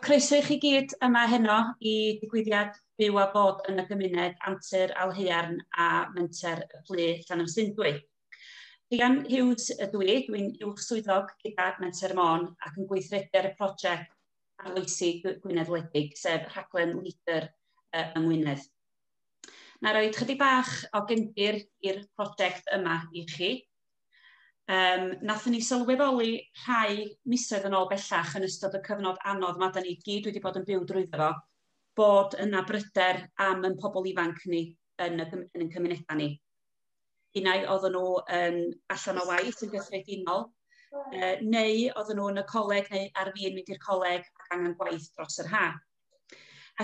Croeso i chi gyd yma heno i digwyddiad Byw a Bod yn y Gymuned Antur Alhaearn a Menter y Plu Llanymsundwy. Rhian Hughes ydw i, dwi'n uwch swyddog gyda Menter Môn ac yn gweithredu ar y prosiect arloesi Gwynedd Wledig, sef rhaglen Leader yng Ngwynedd. Na roed chydig bach o gefndir i'r prosiect yma i chi. Um, nathon ni sylweddoli rhai misoedd yn ôl bellach yn ystod y cyfnod anodd mae da ni gyd wedi bod yn byw drwyddo fo, bod yna bryder am yn pobl ifanc ni yn y, yn y cymunedau ni. Unau oedden nhw yn allan o waith yn gyffredinol, uh, neu oedden nhw yn y coleg neu ar fi'n mynd i'r coleg ac angen gwaith dros yr ha.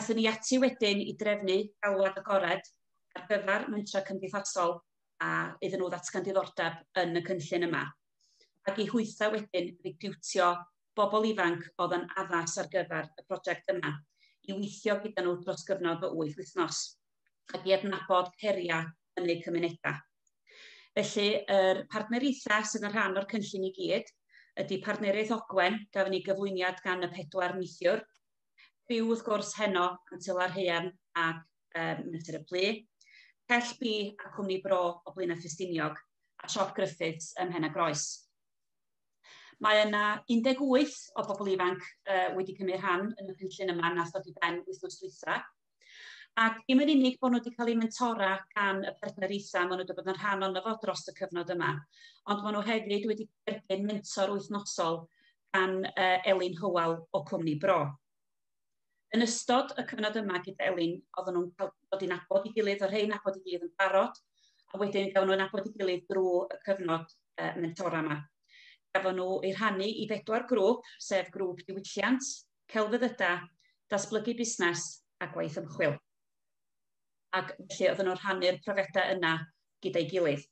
Athyn ni ati wedyn i drefnu galwad agored ar gyfer mentrau cymdeithasol a iddyn nhw ddatgan diddordeb yn y cynllun yma, ac i hwythau wedyn recriwtio bobl ifanc oedd yn addas ar gyfer y prosiect yma, i weithio gyda nhw dros gyfnod o wyth wythnos, ac i adnabod heriau yn eu cymunedau. Felly, yr partneriaethau sydd yn rhan o'r cynllun i gyd ydy Partneriaeth Ogwen, gafon ni gyflwyniad gan y pedwar neithiwr, criw wrth gwrs heno, Antel a'r Haearn, ac um, Natur y Plu, Pell Bi a Cwmni Bro o Blaenau Ffestiniog a Siop Griffiths ym Mhen y Groes. Mae yna 18 o bobl ifanc uh, wedi cymryd rhan yn y cynllun yma na thod i ben wythnos dwytha. Ac dim yn unig bod nhw wedi cael eu mentora gan y partneriaethau maen nhw wedi bod yn rhan o'n fo dros y cyfnod yma, ond maen nhw hefyd wedi derbyn mentor wythnosol gan uh, Elin Hywel o Cwmni Bro. Yn ystod y cyfnod yma gyda Elin, oedden nhw'n cael dod i nabod i gilydd, o rhai nabod i gilydd yn barod, a wedyn gawn nhw'n nabod i gilydd drwy y cyfnod uh, mentora yma. Gafon nhw ei rhannu i bedwar grŵp, sef grŵp diwylliant, celfyddyda, datblygu busnes a gwaith ymchwil. Ac felly oedden nhw'n rhannu'r profedau yna gyda'i gilydd.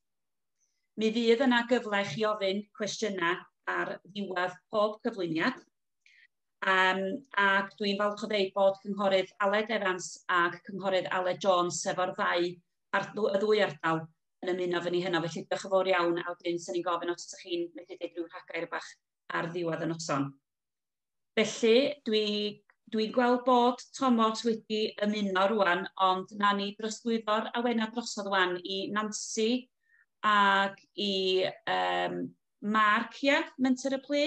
Mi fydd yna gyfle i chi ofyn cwestiynau ar ddiwedd pob cyflwyniad, Um, ac dwi'n falch o ddeud bod cynghorydd Aled Evans ac cynghorydd Aled Jones, sef o'r ddau, ar, y ddwy ardal, yn ymuno fy ni hynna. Felly diolch yn fawr iawn, a wedyn sy'n ni'n gofyn os ydych chi'n medru dweud rhyw rhagair bach ar ddiwedd y noson. Felly, dwi, dwi'n gweld bod Thomas wedi ymuno rwan, ond na ni drosglwyddo'r awena drosodd rwan i Nancy ac i um, Mark, ia, menter y plu.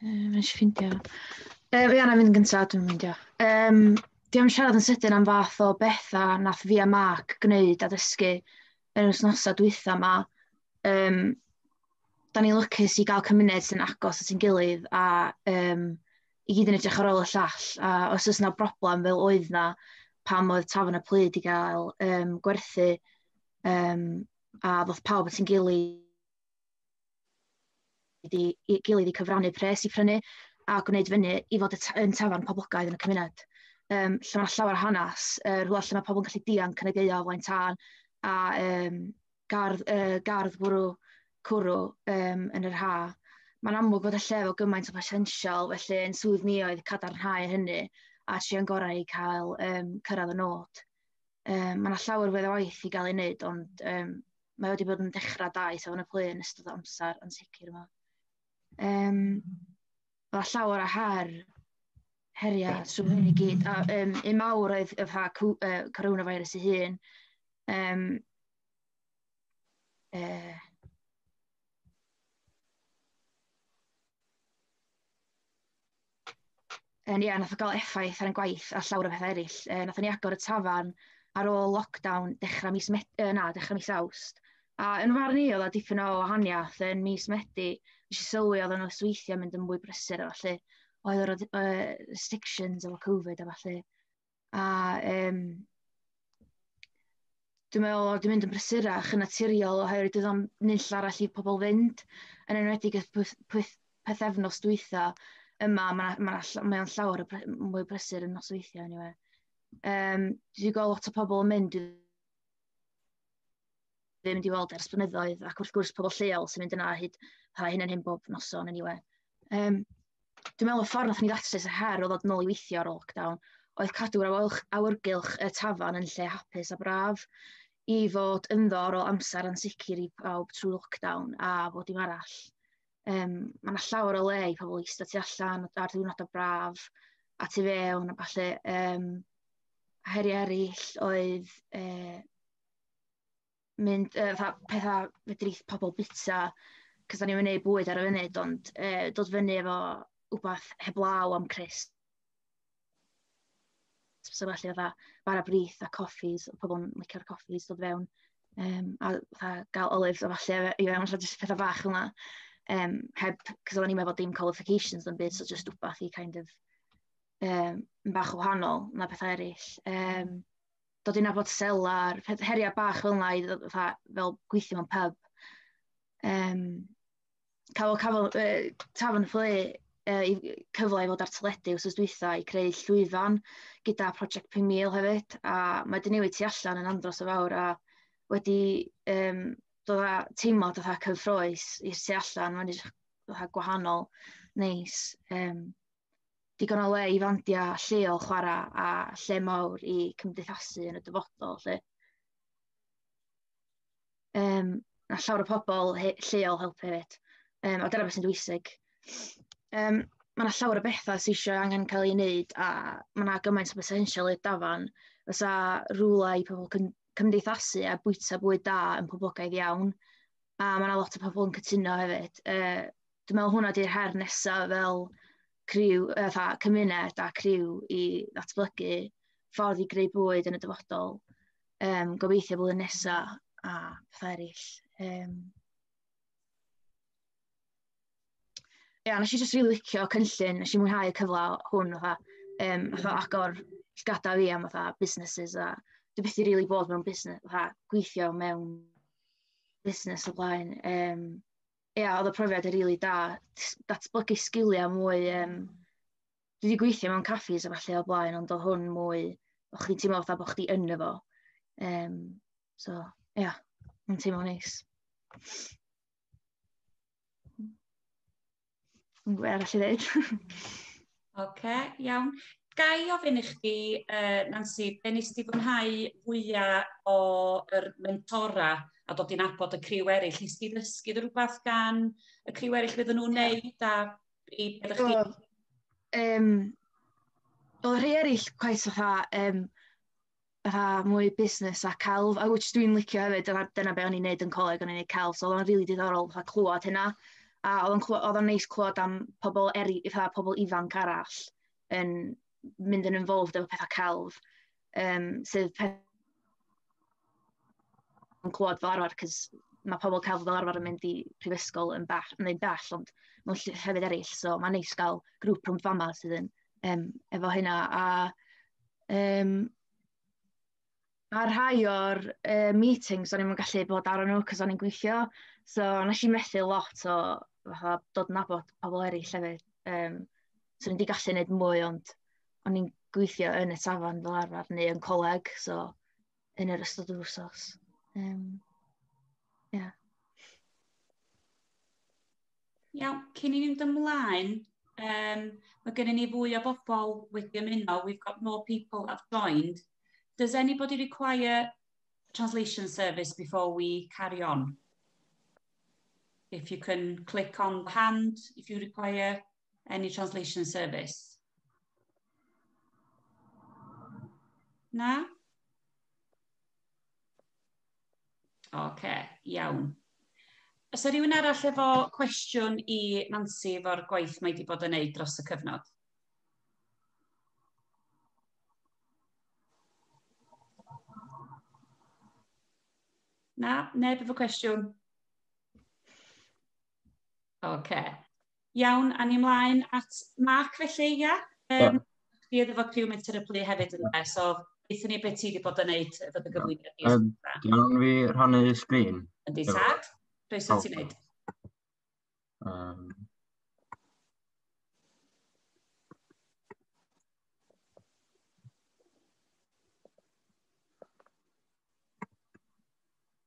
Mae'n eisiau ffindio. Um, ia, na fynd gyntaf, dwi'n mynd, ia. Um, di am siarad yn sydyn am fath o bethau nath fi a Mark gwneud a dysgu yn yr wythnosau dwytha yma. Um, da ni'n lwcus i gael cymuned sy'n agos at ein gilydd a um, i gyd yn edrych ar ôl y llall, a os oes 'na broblem fel oedd 'na pam oedd Tafarn y Plyd i gael um, gwerthu, um, a ddoth pawb at yn gilydd i, i gilydd i cyfrannu pres i prynu a gwneud fyny i fod yn tafarn poblogaidd yn y cymuned. Um, lle mae llawer o hanes, uh, rhywle lle mae pobl yn gallu dianc yn y geio o flaen tân, a um, gardd, uh, gardd bwrw cwrw um, yn yr ha. Mae'n amlwg bod y lle efo gymaint o botensial, felly yn swydd ni oedd cadarnhau hynny a trio'n gorau i cael um, cyrraedd y nod. Um, mae yna llawer wedd o waith i gael ei wneud, ond um, mae wedi bod yn dechrau da i safon y plu yn ystod o amser yn sicr yma. Um, Mae llawer o her, heriau trwy hyn i gyd. A um, un mawr oedd y ffa coronavirus ei hun. Um, uh, Yn ia, nath o gael effaith ar ein gwaith a llawer o bethau eraill. Uh, nath ni agor y tafan ar ôl lockdown dechrau mis, met, uh, na, dechrau mis awst. A yn fy marn i, oedd 'na dipyn o wahaniaeth yn mis Medi. Nes i sylwi oedd y nosweithiau'n mynd yn fwy brysur a ballu. Oedd yr oedd yy restrictions efo Covid a ballu. A yym dwi'n meddwl oedd o 'di mynd yn brysurach yn naturiol oherwydd doedd o'm nunlle arall i pobl fynd, yn enwedig y pwyth- pwyth- pythefnos dwytha. Yma, ma' 'na ma' 'na ll- mae o'n llawer o bry- mwy o brysur yn nosweithiau eniwe. Yym, dwi 'di gweld lot o pobl yn mynd i... ddim wedi weld ers blynyddoedd, ac wrth gwrs pobl lleol sy'n mynd yna hyd pa hyn yn hyn bob noson yn iwe. Um, dwi'n meddwl y ffordd nath ni ddatrys y her o ddod nôl i weithio ar ôl lockdown oedd cadw'r awyrgylch y tafan yn lle hapus a braf i fod ynddo ar ôl amser ansicr i bawb trwy lockdown a bod dim arall. Yym, ma' 'na llawer o le i pobl ista tu allan ar ddiwrnodau braf, a tu fewn a ballu. Yym, heriau eraill oedd, yy, mynd, yy, fatha pethau fedri pobl byta, cos dan ni'm yn wneud bwyd ar y funud, ond, yy, dod fyny efo wbath heblaw am Crist. So felly oedd bara brith a coffis, oedd pobl yn licio'r coffis dod fewn. Um, a fatha gael olives a falle i fewn, allan jyst pethau bach yma. Um, heb, cos oedden ni'n efo dim qualifications yn byd, so jyst wbath i kind of um, bach o wahanol na pethau eraill. Um, dod i'n abod selar, heriau bach fel yna, fel gweithio mewn pub. Um, cafodd cafodd yy Tafarn y Fflê yy i- cyfle i fod ar teledu wsos dwytha i creu llwyfan gyda Project Pum Mil hefyd, a mae wedi newid tu allan yn andros o fawr a wedi yym dod â teimlad fatha cyffrous i'r tu allan, mae'n edrych fatha gwahanol, neis, yym digon o le i fandiau lleol chwarae a lle mawr i cymdeithasu yn y dyfodol 'lly. Yym, wnaeth llawer o pobl he- lleol helpu hefyd. Yym, a dyna be sy'n bwysig. Yym, ma' 'na llawer o betha sy isio angen cael ei wneud, a ma' 'na gymaint o botensial i'r dafarn. Fysa rywle i pobl cym- cymdeithasu a bwyta bwyd da yn poblogaidd iawn, a ma' 'na lot o pobl yn cytuno hefyd. Yy, dwi'n meddwl hwnna 'di'r her nesa fel criw, yy, fatha cymuned a criw i ddatblygu ffordd i greu bwyd yn y dyfodol. um, gobeithio bod yn nesaf a pethau eraill. Um, Ia, nes i jyst rili licio cynllun, nes i mwynhau y cyfle hwn, fatha, um, fatha agor llgada fi am fatha businesses a dwi beth i rili bod mewn busnes, fatha gweithio mewn busnes o blaen. Um, ia, oedd y profiad yn rili da, datblygu sgiliau mwy um, dwi wedi gweithio mewn caffis a falle o blaen, ond o hwn mwy, o chdi'n teimlo fatha bod chdi yn efo. Um, so, ia, yeah, mae'n teimlo neis. Yn gwybod arall i ddeud. Oce, iawn. Ga i ofyn i chdi, uh, Nancy, be nes ti fwynhau fwyaf o'r mentora a dod i'n abod y criw eraill? Nes ti ddysgu rhywbeth gan y criw eraill fydden nhw'n neud a i beth chi... Um, o rhai eraill cweit fatha, um, fatha mwy busnes a celf, a which dwi'n licio hefyd, dyna, dyna be o'n i'n neud yn coleg, o'n i'n neud celf, so oedd o'n rili really diddorol fatha clywed hynna. A oedd o'n neis clywed am pobl eri, fatha pobl ifanc arall yn mynd yn involved efo pethau celf. yym, sydd pe- yn clywed fel arfer, cos ma' pobl celf fel arfer yn mynd i prifysgol yn bell, yn un bell, ond mewn lle- llefydd eraill. So mae'n neis gael grŵp rhwng fama sydd yn yym, efo hynna. A yym, mae rhai o'r uh, meetings o'n i'n gallu bod ar nhw cos o'n i'n gweithio. So nes i methu lot o fatha, dod yn nabod pobl eraill hefyd. Um, so o'n i'n gallu gwneud mwy, ond... o'n i'n gweithio yn y tafarn fel arfer neu yn coleg, so yn yr ystod yr wsos. Um, yeah. Iawn, cyn i ni fynd ymlaen, um, mae gennym ni fwy o bobl wedi ymuno. We've got more people have joined. Does anybody require translation service before we carry on? If you can click on the hand, if you require Any translation service? Na? Oce, okay, iawn. Os yw rhywun arall efo cwestiwn i Nancy efo'r gwaith mae wedi bod yn neud dros y cyfnod? Na, neb efo cwestiwn? Oce. Okay. Iawn, awn ni ymlaen at Mark felly, ia? Um, Di oedd efo criw Menter y Plu hefyd yn dweud, so beth ni beth ti wedi bod yn neud efo dy gyflwyniad di. Um, Iawn fi rhannu sgrin. Yn di tad, beth sy'n ti'n neud? Um,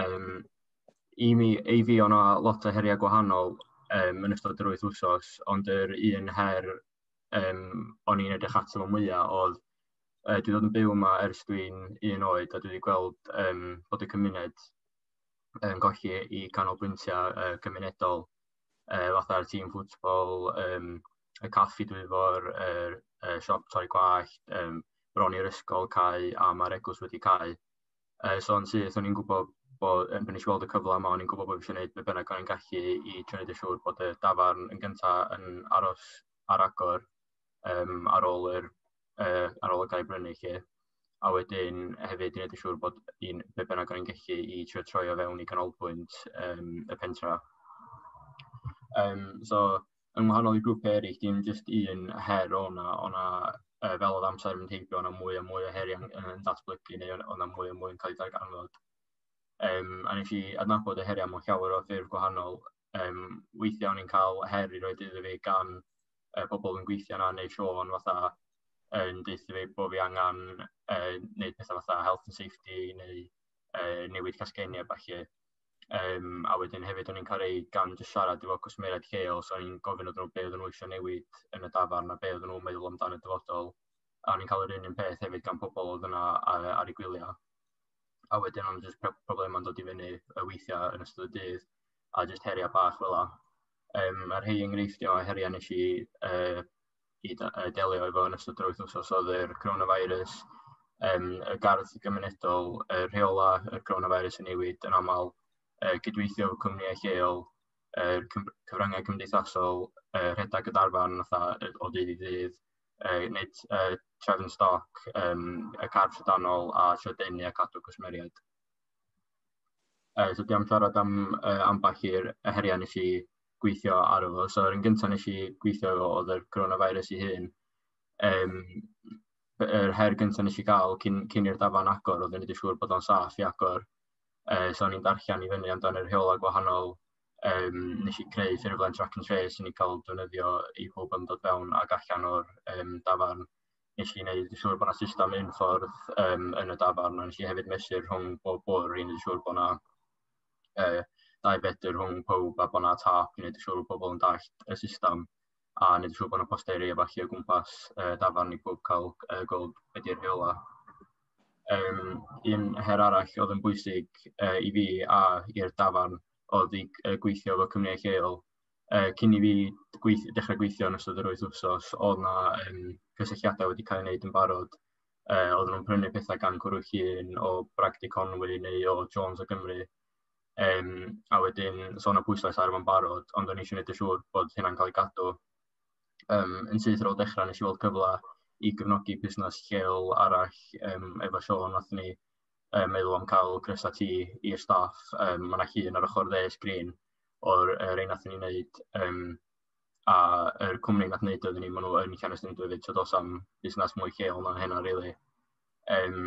Um, I mi, ei fi, o'na lot o heriau gwahanol um, yn ystod yr wyth wsos, ond yr un her um, o'n i'n edrych ato fo mwyaf oedd uh, dwi ddod yn byw yma ers dwi'n un oed a dwi wedi gweld um, bod y cymuned yn um, golli i canolbwyntiau uh, cymunedol uh, fatha'r tîm ffwtbol, um, y caffi dwi fo'r er, er siop torri gwallt, um, bron i'r ysgol cael a mae'r egwys wedi cael. Uh, so yn syth, o'n i'n gwybod bod, yn nes i weld y cyfle yma, o'n i'n gwybod bod fi eisiau gwneud beth bynnag o'n i'n gallu i trio gwneud yn siŵr bod y dafarn yn gyntaf yn aros ar agor um, ar ôl yr uh, ar ôl y gair brynu chi. A wedyn hefyd i wneud yn siŵr bod un beth bynnag o'n i'n gallu i trio troi o fewn i ganolbwynt um, y pentra. Um, so, yn wahanol i grwpiau eraill, dim jyst un her o na, o na uh, fel oedd amser yn teithio, o'na mwy a mwy o heriau yn, yn datblygu neu o'na mwy a mwy yn cael ei darganfod. Um, a nes i adnabod y heriau mewn llawer o ffurf gwahanol. Um, weithiau o'n i'n cael her i roed iddo fi gan uh, pobl yn gweithio yna neu Sean fatha yn uh, deutha fi bod fi angen uh, neud pethau fatha health and safety neu uh, newid casgennau bach i. Um, a wedyn hefyd o'n i'n cael ei gan jyst siarad efo cwsmeriaid lleol, so o'n i'n gofyn oedden nhw be oedden nhw eisiau newid yn y dafarn a be oedden nhw'n meddwl amdan y dyfodol. A o'n i'n cael yr un un peth hefyd gan pobl oedd yna ar, ar ei gwyliau. A wedyn o'n jyst problemau'n dod i fyny y weithiau yn ystod y dydd a jyst heriau bach fel la. Um, a'r hei enghreifftiau o heriau nes i uh, i delio efo yn ystod yr wythnos oedd yr coronavirus, um, y gardd gymunedol, y rheola y coronavirus yn newid yn aml, uh, gydweithio efo cwmnïau lleol, uh, cyfryngau cymdeithasol, uh, rhedeg y darfan o ddydd i ddydd, uh, wneud uh, trefn stoc, um, y carf sydanol a lledaenu a cadw cwsmeriaid. Uh, so, diolch am siarad am uh, ambell i'r heriau nes i gweithio ar efo. So, yr un gyntaf nes i gweithio efo oedd yr coronavirus i hun. Um, yr her gyntaf nes i gael cyn, cyn i'r dafan agor, oedd yn edrych siŵr bod o'n saff i agor. Uh, so, ni'n darllen i fyny amdano'r rheolau gwahanol um, nes i creu ffurflen track and trace yn ei cael defnyddio i pob yn dod fewn ac allan o'r um, dafarn. Nes i wneud yn siŵr bod yna system un ffordd um, yn y dafarn, a nes i hefyd mesur rhwng bob bwr i wneud yn siŵr bod yna uh, dau fedr rhwng pob a bod yna tap i wneud yn siŵr bod pobl yn dallt y system a wneud yn siŵr bod yna posteri a falle o gwmpas uh, dafarn i pob cael uh, gweld beth yw'r rheola. Um, un her arall oedd yn bwysig uh, i fi a i'r dafarn oedd i uh, gweithio efo cymryd lleol. Uh, cyn i fi gweith, dechrau gweithio yn ystod yr wyth wsos, oedd yna um, cysylltiadau wedi cael ei wneud yn barod uh, oedden nhw'n prynu pethau gan cwrw llun o Bragdy Conwy neu o Jones o Gymru. Um, a wedyn sôn o bwyslais ar yma'n barod, ond o'n eisiau gwneud y siŵr bod hynna'n cael ei gadw. Um, yn syth ar ôl dechrau nes i weld cyfle i gefnogi busnes lleol arall um, efo Sean, nath ni um, meddwl am cael grysau ti i'r staff. Um, Mae'n yna llun ar ochr dde sgrin o'r er ein nath ni'n wneud um, a yr cwmni nath neud o iddyn ni ma' nw yn Llanystumdwy efyd so do's am busnas mwy lleol na hynna rili. Yym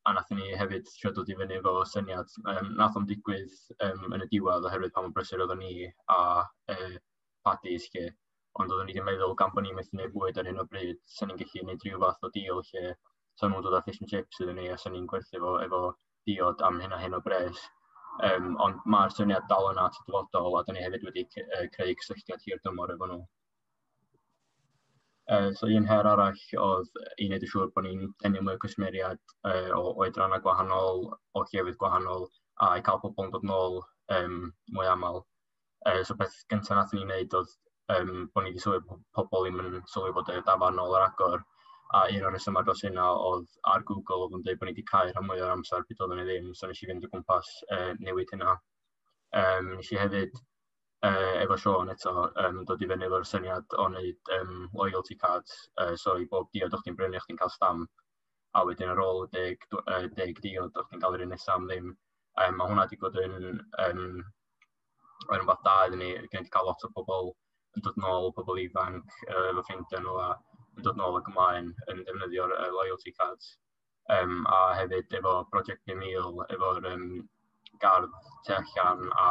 a nathon ni hefyd trio dod i fyny efo syniad yym nath o'm digwydd yym yn y diwedd oherwydd pa mor brysur oddon ni a yy Paddy 'lly ond oddon ni 'di meddwl gan bo' ni methu neud bwyd ar hyn o bryd sa ni'n gellu neud ryw fath o deal lle sa nw'n dod â fish and chips iddyn ni a sa ni'n gwerthu fo efo diod am hyn a hyn o bres. Um, ond mae'r syniad dal yna at y dyfodol a dyn ni hefyd wedi creu cysylltiad hir dymor efo nhw. Uh, so un her arall oedd i wneud yn siŵr bod ni'n tynnu mwy o cwsmeriad uh, o oedrannau gwahanol, o llefydd gwahanol, a i cael pobl yn dod nôl um, mwy aml. uh, so beth gyntaf nath ni wneud oedd um, bod ni wedi sylwi bod pobl ddim yn sylwi bod y dafan ôl yr agor, a un o'r rhesymau dros hynna oedd ar Google oedd yn dweud bod ni wedi cael rhan mwy o'r amser byd oeddwn ni ddim, so nes i fynd o gwmpas uh, newid hynna. Um, nes i hefyd uh, efo Sean eto um, dod i fyny efo'r syniad o wneud um, loyalty cards, uh, so i bob diod o'ch ti'n brynu o'ch ti'n cael stamp, a wedyn ar ôl deg, uh, deg diod o'ch ti'n cael yr un nesaf am ddim. Um, mae hwnna wedi bod yn um, Mae'n rhywbeth da iddyn ni, gen i cael lot o bobl yn dod nôl, pobl ifanc, uh, fy ffrindiau nhw a yn dod nôl ac ymlaen yn defnyddio'r uh, loyalty cards. Um, a hefyd efo Project 5000, efo'r um, gardd tu allan a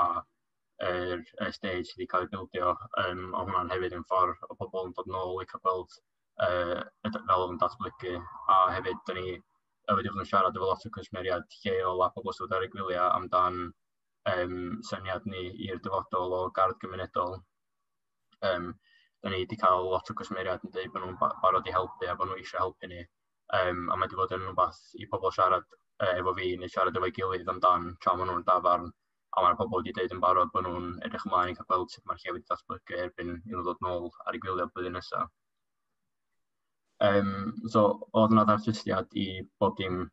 yr er, stage sydd wedi cael ei bildio, um, a hwnna'n hefyd yn ffordd o bobl yn dod nôl i cael gweld uh, fel o'n datblygu, a hefyd dyn ni wedi bod yn siarad efo lot o cwsmeriad lleol a pobl sydd wedi gwyliau amdan um, syniad ni i'r dyfodol o gardd gymunedol. Um, da ni wedi cael lot o gwsmeriad yn dweud bod nhw'n barod i helpu a bod nhw eisiau helpu ni. Um, a mae wedi bod yn rhywbeth i pobl siarad uh, efo fi neu siarad efo'i gilydd amdan tra maen nhw'n dafarn. A mae'r pobl wedi dweud yn barod bod nhw'n edrych ymlaen i cael gweld sut mae'r lle wedi datblygu erbyn i nhw ddod nôl ar ei gwylio blwyddyn nesaf. Um, so, oedd yna ddartistiad i bob dim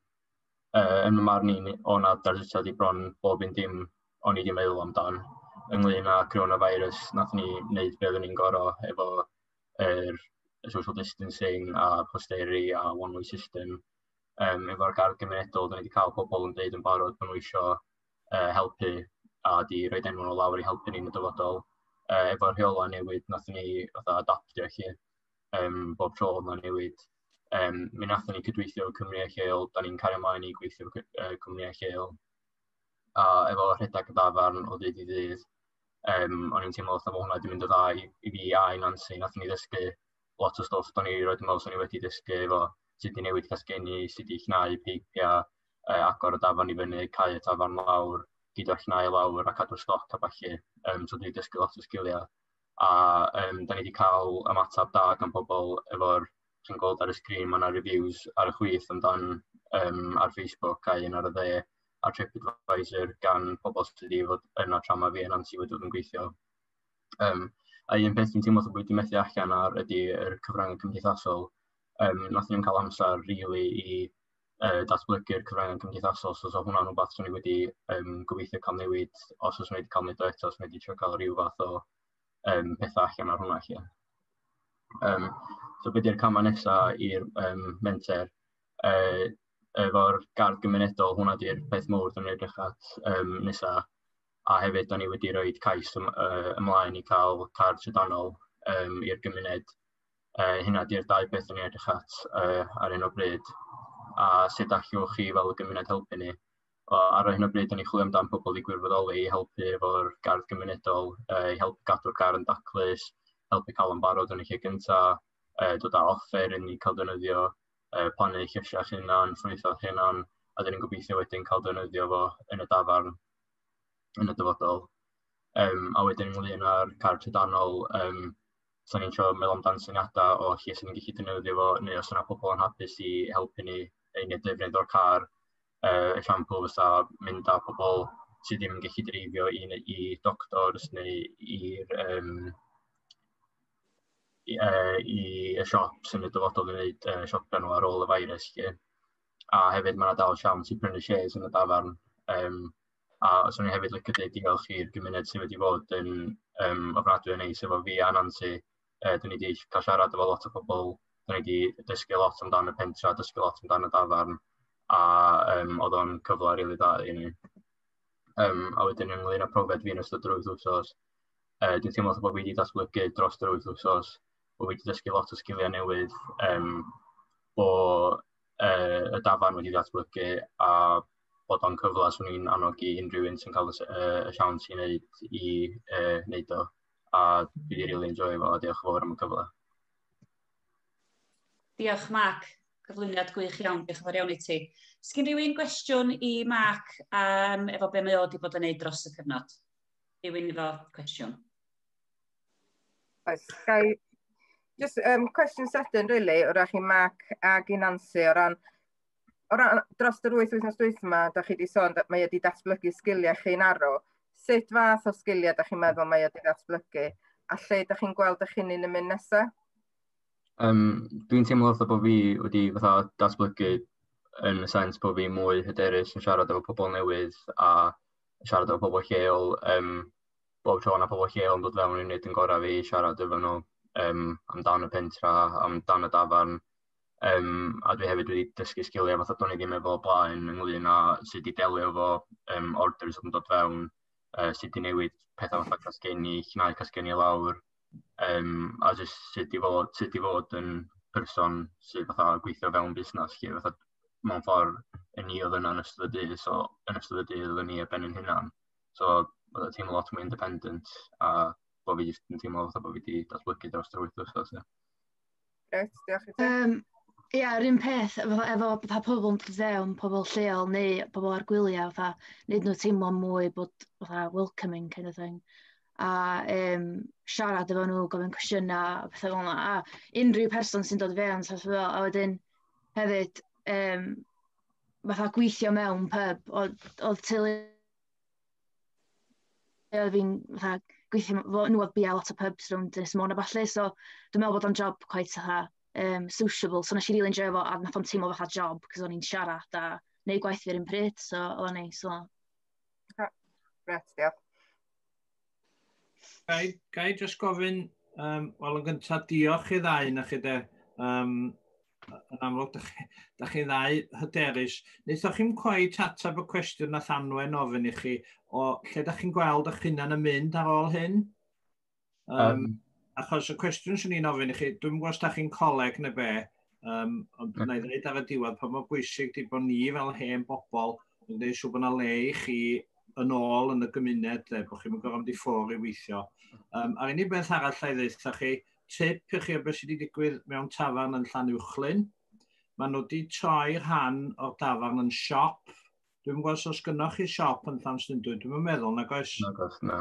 uh, yn y marn i, o na darlithiad i bron bob un dim o'n i wedi meddwl amdan ynglyn â coronavirus, nath ni wneud beth o'n i'n gorau efo er, social distancing a posteri a one-way system. Um, efo'r gardd gymunedol, dyn ni wedi cael pobl yn dweud yn barod bod nhw eisiau uh, helpu a di roed enw nhw lawr i helpu ni'n y dyfodol. Uh, efo'r rheolau newid, nath ni fatha adaptio chi. um, bob tro oedd yna newid. Um, mi nathon ni cydweithio o Cymru a Lleol, da ni'n cario ymlaen i gweithio o uh, Cymru a Lleol. A efo rhedeg y dafarn o ddydd i ddydd, um, o'n i'n teimlo fatha bod hwnna wedi mynd o dda i, i fi a i Nancy, nath ni ddysgu lot o stwff do'n i roed yn meddwl sy'n ni wedi dysgu efo sut i newid casgenni, sut i chnau peipiau, e, agor y dafan i fyny, cael y tafan lawr, gyda'r chnau lawr a cadw stoc a falle. Um, so dwi'n dysgu lot o sgiliau a yym dan ni 'di cael ymateb da gan pobl efo'r chi'n gweld ar y sgrîn ma' 'na reviews ar y chwith amdan yym ar Facebook a un ar y dde ar Tripadvisor gan pobl sy' 'di fod yna tra ma' fi a Nansi wedi bod yn gweithio yym a un peth dwi'n teimlo fatha bo' fi 'di methu allan ar ydi yr cyfrynge cymdeithasol yym nathon ni'm ca'l amsar rili i uh, datblygu'r cyfryngau cymdeithasol. So, so hwnna'n rhywbeth sy'n ni wedi um, gobeithio cael newid os oes wedi cael newid o eto, os wedi trio cael rhyw fath o um, pethau allan ar hwnna chi. Um, so beth yw'r camau nesaf i'r um, menter? Uh, efo'r gardd gymunedol, hwnna di'r peth mowr dyn ni'n edrych at um, nesaf. A hefyd, dyn ni wedi rhoi cais ym, uh, ymlaen i cael cardd trydanol um, i'r gymuned Uh, hynna di'r dau beth yn ei edrych at uh, ar un o bryd. A sut allwch chi fel gymuned helpu ni? O, ar hyn o bryd, da ni chwilio amdano pobl i gwirfoddoli i helpu efo'r gardd gymunedol, uh, i helpu gadw'r gar yn daclus, helpu cael yn barod yn y lle gyntaf, uh, dod â offer i ni cael dynyddio, uh, plannu llysiau hunan, ffrwytho hunan, a dyn ni'n gobeithio wedyn cael dynyddio fo yn y dafarn yn y dyfodol. Um, a wedyn ynglyn â'r car trydanol, um, so ni'n trio meddwl amdan syniadau o lle sy'n ni'n gallu defnyddio fo, neu os yna pobl yn hapus i helpu ni ein defnydd o'r car. Uh, esiampl fysa mynd â pobl sydd ddim yn gallu dreifio i, i doctors neu i'r um, i, uh, i y siop sy'n y dyfodol i wneud uh, siopio nhw ar ôl y virus. Lle. A hefyd mae yna dal siawns i brynu shares yn y dafarn. Um, A 'swn i hefyd licio deud diolch i'r gymuned sydd wedi bod yn yym ofnadwy o neis efo fi a Nansi. Yy 'dyn ni 'di cael siarad efo lot o pobl, 'dyn ni 'di dysgu lot amdan y pentre, dysgu lot amdan y dafarn, a yym oedd o'n cyfle rili dda i ni. Yym a wedyn ynglŷn â profiad fi yn ystod yr wythnos, yy dwi'n teimlo fatha bo' fi 'di datblygu dros yr wythnos, bo' fi 'di dysgu lot o sgiliau newydd, yym bo' yy y dafarn wedi datblygu a bod o'n cyfle swn i'n annog i unrhyw un sy'n cael y, uh, y siawns i wneud i uh, wneud o a dwi wedi really enjoy fo a diolch yn fawr am y cyfle. Diolch Mark, cyflwyniad gwych iawn, diolch yn fawr iawn i ti. Sgyn rhywun gwestiwn i Mark um, efo be mae o wedi bod yn neud dros y cyfnod? Rhywun efo cwestiwn? Oes, gai... Just um, cwestiwn sydyn, really, o'r chi Mark a Ginansi o ran o ran dros yr wyth wythnos dwytha yma, da chi wedi sôn, mae wedi datblygu sgiliau chi'n arw. Sut fath o sgiliau da chi'n meddwl mae wedi datblygu? A lle da chi'n gweld eich hunain yn mynd nesaf? Um, Dwi'n teimlo fatha bod fi wedi fatha datblygu yn y sens bod fi mwy hyderus yn siarad efo pobl newydd a siarad efo pobl lleol. Um, bob tro na pobl lleol yn dod fewn i'n nid yn gorau fi siarad efo nhw um, amdan y pentra, amdan y dafarn, Um, a dwi hefyd wedi dysgu sgiliau fath o do'n i ddim efo o blaen ynglyn â sut i delio efo um, orders oedd yn dod fewn, uh, sut i newid pethau fatha casgenni, llnau casgenni lawr, um, a jyst sut i fod, sut i fod yn person sydd fatha gweithio fewn busnes, lle fatha mewn ffordd yn ni oedd yna yn ystod y dydd, so yn ystod y dydd oedd ni a ben yn hynna'n. So oedd y teimlo lot mwy independent a bod fi jyst yn teimlo fatha bod fi wedi datblygu dros yr wyth wythnos. Yeah. Grêt, diolch i ti. Um, Ie, yeah, yr un peth efo, efo fatha pobl yn dod fewn, pobl lleol neu pobl ar gwyliau, fatha, wneud nhw teimlo mwy bod fatha welcoming kind of thing. A um, siarad efo nhw, gofyn cwestiynau, a pethau fel yna. A unrhyw person sy'n dod fewn, so fel, a wedyn hefyd, um, fatha gweithio mewn pub, oedd teulu Oedd fi'n fatha gweithio m- efo nhw oedd biau lot o pubs rownd Ynys Môn a ballu, so dwi'n meddwl bod o'n job cweit fatha, yym, sociable. So wnes i rili enjoio fo, a wnaeth o'm teimlo fatha job, cos o'n i'n siarad a wneud gwaith fi ar yr un pryd, so oedd o'n neis fel 'na. Oce, grêt, diolch. Ga i, ga i just gofyn, um, wel yn gyntaf, diolch i ddau na chi de. Um, yn amlwg, da chi, da chi ddau hyderus. Wnaethoch chi'n cwaet atab y cwestiwn na Llanwen ofyn i chi o lle da chi'n gweld eich hunan yn mynd ar ôl hyn? Um, um, achos y cwestiwn sy'n ni'n ofyn i chi, dwi'n gwybod os da chi'n coleg neu be, um, ond na i ddweud ar y diwedd pa mor bwysig di bod ni fel hen bobl yn gwneud siw bod yna le i chi yn ôl yn y gymuned, le, bod chi'n gorfod mynd i ffwr i weithio. Um, a'r unig beth arall lle i ddeitha chi, tip i chi o beth sydd wedi digwydd mewn tafarn yn Llanuwchllyn. Mae nhw wedi troi rhan o'r dafarn yn siop. Dwi'n gwybod os gynnwch chi siop yn Llanstundwy, dwi'n meddwl, nag oes? Nag oes, na.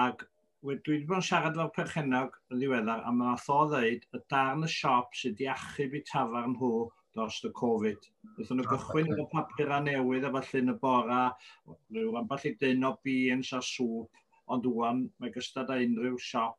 Ac dwi wedi bod yn siarad efo'r perchennog yn ddiweddar a mae'n atho ddeud y darn y siop sydd wedi achub i tafar nhw dros y Covid. Wnaethon nhw gychwyn efo papurau newydd a falle yn y bora, rhyw ambell i dyn o beans a sŵp, ond wwan mae gystad â unrhyw siop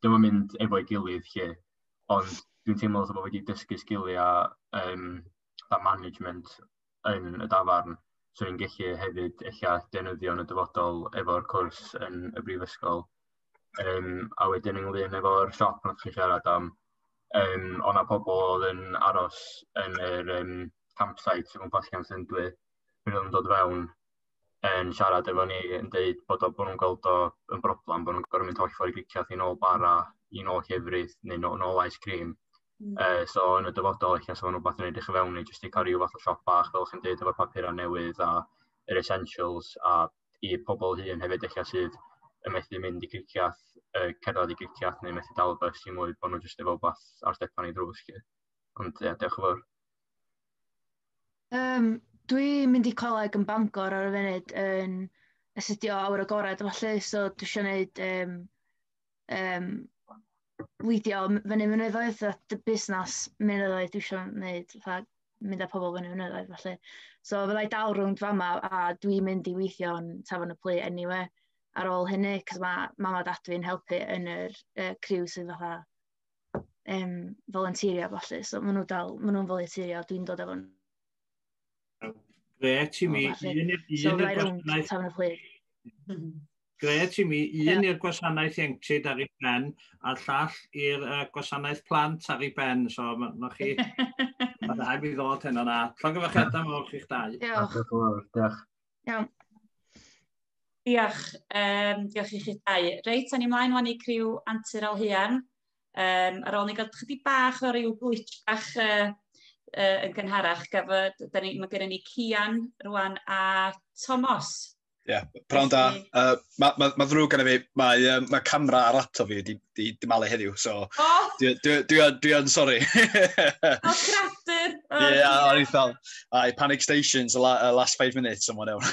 ddim yn mynd efo'i gilydd lle, ond dwi'n teimlo fatha bod fi wedi dysgu sgiliau um, a management yn y dafarn, so ni'n gallu hefyd eich defnyddio yn y dyfodol efo'r cwrs yn y brifysgol. Um, a wedyn ynglyn efo'r siop yn chi'n siarad am, um, o'na pobl oedd yn aros yn yr um, campsite sy'n gwmpas gan Sendwy, pryd oedd yn dod fewn, yn siarad efo ni yn dweud bod o'n bod nhw'n gweld o yn broblem, bod nhw'n gorfod mynd holl ffordd i gicio i nôl bara, i nôl llefrith, neu nôl, nôl ice cream. Mm. Uh, so yn y dyfodol, eich nes o'n rhywbeth yn edrych i fewn i jyst i cael rhyw fath o siop bach, fel chi'n dweud, efo'r papurau newydd a yr essentials, a i pobl hun hefyd eich sydd yn methu mynd i griciath, uh, cerdded i griciath neu methu dal y bus i mwy, bod nhw jyst efo beth ar stepan i drws. Ond ie, yeah, diolch yn fawr. Um, dwi'n mynd i coleg yn Bangor ar y funud yn astudio awr agored a falle, so dwi eisiau gwneud um, um, weithio m- fyny mynyddoedd a dy- busnes mynyddoedd dwi isio wneud, fatha mynd â pobl fyny mynyddoedd felly. So fydda i dal rownd fama a dwi'n mynd i weithio yn Tafarn y Plu eniwe ar ôl hynny, cos mae mam a dad fi'n helpu yn yr yy criw sydd fatha... yym, volunteerio a falle. So maen nhw dal, maen nhw'n volunteerio, dwi'n dod efo nhw. Gret i mi, un i'r gwasanaeth... Tawn y Plug. Gret i mi, un i'r gwasanaeth ieuenctid ar ei ben, a llall i'r uh, gwasanaeth plant ar ei ben. So, mae chi... Mae rhaid i ddod heno na. Llog y fachedau mawr chi'ch dau. Diolch. Diolch. Iawn. Diolch, um, diolch i chi dau. Reit, a'n ni mlaen wan i criw Antur Alhuan. Um, ar ôl ni gael chydig bach o ryw glitch bach uh, uh, yn gynharach, gaf, da ni, mae gennym ni Cian rwan a Tomos. Ie, yeah, prawn da. Uh, mae ma, ma ddrwg gan fi, mae, um, mae camera ar laptop fi wedi di, di malu heddiw, so... O! Dwi, dwi, dwi, dwi yn sori. o, cradur! Ie, oh, yeah, o'n i'n fel, I panic stations the uh, last five minutes, someone else.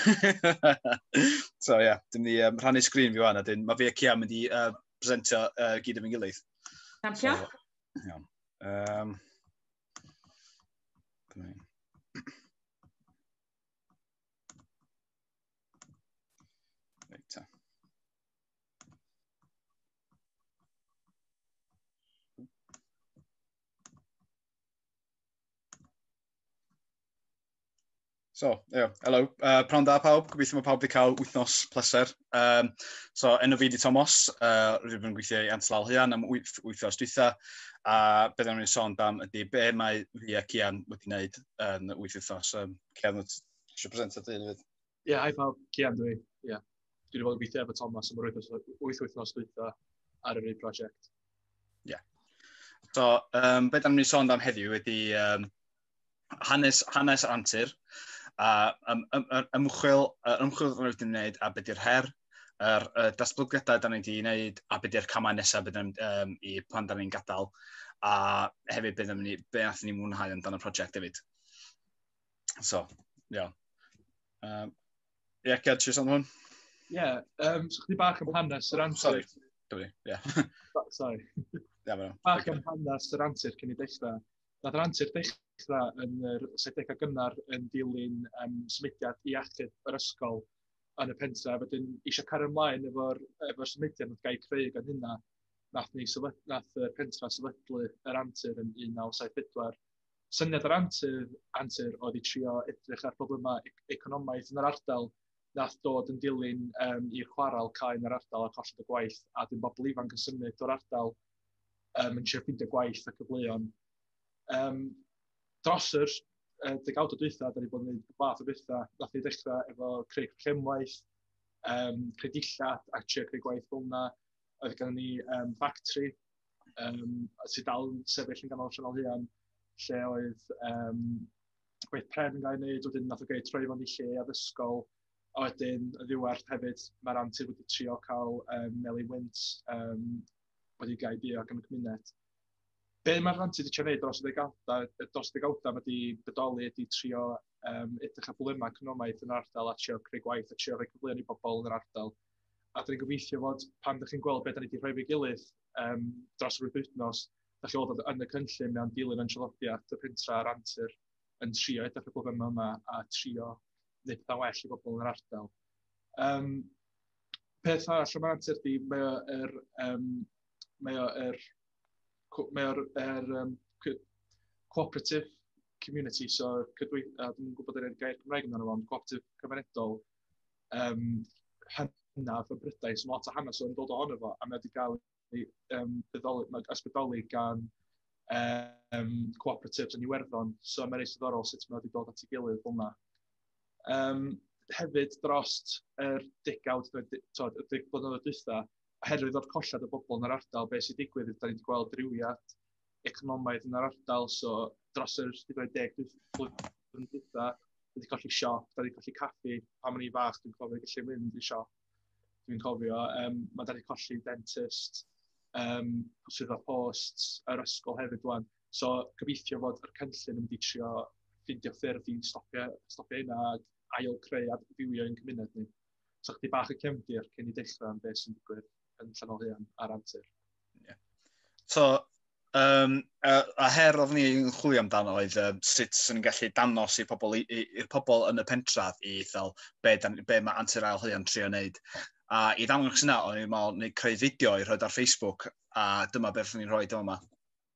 so, ie, yeah, dim ni um, rhannu sgrin fi wan, a dyn, mae fi a Cian mynd i uh, presentio uh, gyd yn fy gilydd. Thank you. So, iawn. Um, So, yeah, hello. Uh, Prawn da pawb, gobeithio mae pawb wedi cael wythnos pleser. Um, so, enw fi di Tomos, uh, rydym yn gweithio i Antlal Hyan am wyth, wythnos dwytha, a beth o'n i'n sôn dam ydy be mae fi ac Ian wedi wneud yn wyth wythnos. Um, Cian, wyt ti eisiau presentio dy hun hefyd? Ie, yeah, hi pawb, Cian dwi. Ie. Yeah. Dwi wedi bod yn gweithio efo Thomas am yr wythnos, wyth wythnos dwytha ar yr un prosiect. Ie. Yeah. So, um, beth am ni sôn am heddiw ydy um, hanes, hanes yr antur, a um, um, um, ymchwil, uh, ymchwil rydyn ni'n gwneud a beth yw'r her, yr uh, datblygiadau da ni wedi gwneud a beth yw'r camau nesaf bydd um, i pan da ni'n gadael a hefyd bydd ni, beth ni mwynhau amdano'r prosiect hefyd. So, iawn. Um, Ie, yeah, Ged, ti'n hwn? Ie, yeah, um, so chdi bach am hanes yr antur. Sorry, dyfri, ie. Sorry. Ie, mae'n Bach am hanes yr antur cyn i dechrau. Nath yr antur dechrau yn yr sedegau gynnar yn dilyn um, symudiad i achub yr ysgol yn y pentra. Wedyn, eisiau cario ymlaen efo'r efo symudiad nath gael creu gan hynna. Nath, ni sylwyd, nath y pentra sylwydlu yr antur yn 1974 syniad yr antur, antur oedd i trio edrych ar problemau e-, economaidd yn yr ardal nath dod yn dilyn um, i'r chwarael cael yn yr ardal a colled y gwaith, a dim bobl ifanc yn symud o'r ardal um, yn trio ffeindio gwaith a cyfleon. Um, dros yr uh, degawd o dwytha, da ni bod yn gwneud fath o bethau, nath ni ddechrau efo creu llemwaith, um, creu dillad a trio creu gwaith fel yna, oedd gan ni um, factory um, sydd dal yn sefyll yn ganol Sianel Huan, lle oedd um, gweith pren yn cael ei wneud, wedyn nath o gael ei troi fo'n i lle addysgol, a wedyn y ddiwedd hefyd, mae'r antur wedi trio cael um, Meli Wint um, wedi gael ei dio ac yn y cymuned. Be mae'r antur wedi trio wneud dros y ddegawdau, dros y ddegawdau mae wedi bodoli, wedi trio um, edrych ar bwlemau cymromaeth yn yr ardal a trio creu gwaith a trio rhoi cyfleoedd i bobl yn yr ardal. A dwi'n gobeithio fod pan ydych chi'n gweld beth da ni wedi rhoi fe gilydd um, dros yr wythnos, da chi'n gweld yn y cynllun mewn dilyn yn traddodiad y pentra a'r antur yn trio edrych y problemau yma a trio wneud pethau well i bobl yn yr ardal. Um, peth arall yma antur di, mae o'r um, mae o'r mae o'r er, um, cooperative community, so cydweithio, dwi'n gwybod yr gair Cymraeg yn amdano ond cooperative cymunedol, um, hynaf y brydau sy'n lot o hanes o'n dod ohono fo, a mae wedi cael ei um, ysbrydoli gan um, cooperatives yn Iwerddon, so mae'n eisiau ddorol sut mae wedi dod at ei gilydd fel yma. Um, hefyd dros yr degawd, tod, y deg blynyddoedd dwytha, oherwydd o'r colled o bobl yn yr ardal, beth sy'n digwydd, da ni wedi gweld rywiad economaidd yn yr ardal, so dros yr 30 blwyddyn dwytha, dwi wedi colli siop, dwi wedi colli caffi, pan o'n i'n fach, dwi'n cofio gallu mynd i siop, dwi'n cofio, um, mae dwi wedi colli dentist, um, sydd o post, yr ysgol hefyd dwan. So, gobeithio fod yr cynllun yn mynd i trio ffindio ffyrdd i stopio, stopio hynna a ail creu adfywio yn cymuned ni. So, chdi bach y cefndir cyn i dechrau am beth sy'n digwydd. yn Llanol Huan ar antur. Yeah. So, um, a, a her oedd ni'n chwilio amdano oedd um, sut sy'n gallu danos i'r pobl, i'r pobl yn y pentraf i fel be, dan, be mae antur ail huan trio wneud. A i ddangos yna, o'n i'n meddwl, neu creu fideo i rhoi ar Facebook, a dyma beth ni'n rhoi dyma yma.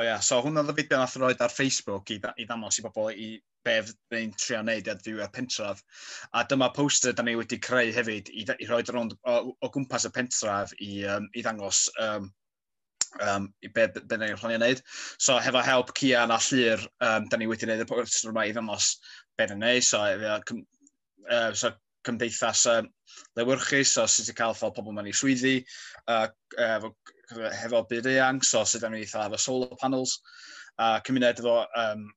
O ia, so hwnna oedd y fideo nath roed ar Facebook i, i ddangos i bobl i be fyddai'n trio wneud i adfywio'r pentref. A dyma poster da ni wedi creu hefyd i, i roi rownd o, o gwmpas y pentref i, um, i ddangos um, um, i be, be, be ni'n planio wneud. So hefo help Cian a Llyr, um, da ni wedi gwneud y poster yma i ddangos be ni'n gwneud. So, cym, uh, so cymdeithas uh, lewyrchu, so sut ti'n cael ffordd pobl mewn i swyddi, uh, efo, hefo byd eang, so sut da ni'n eitha efo solar panels, a uh, cymuned efo um,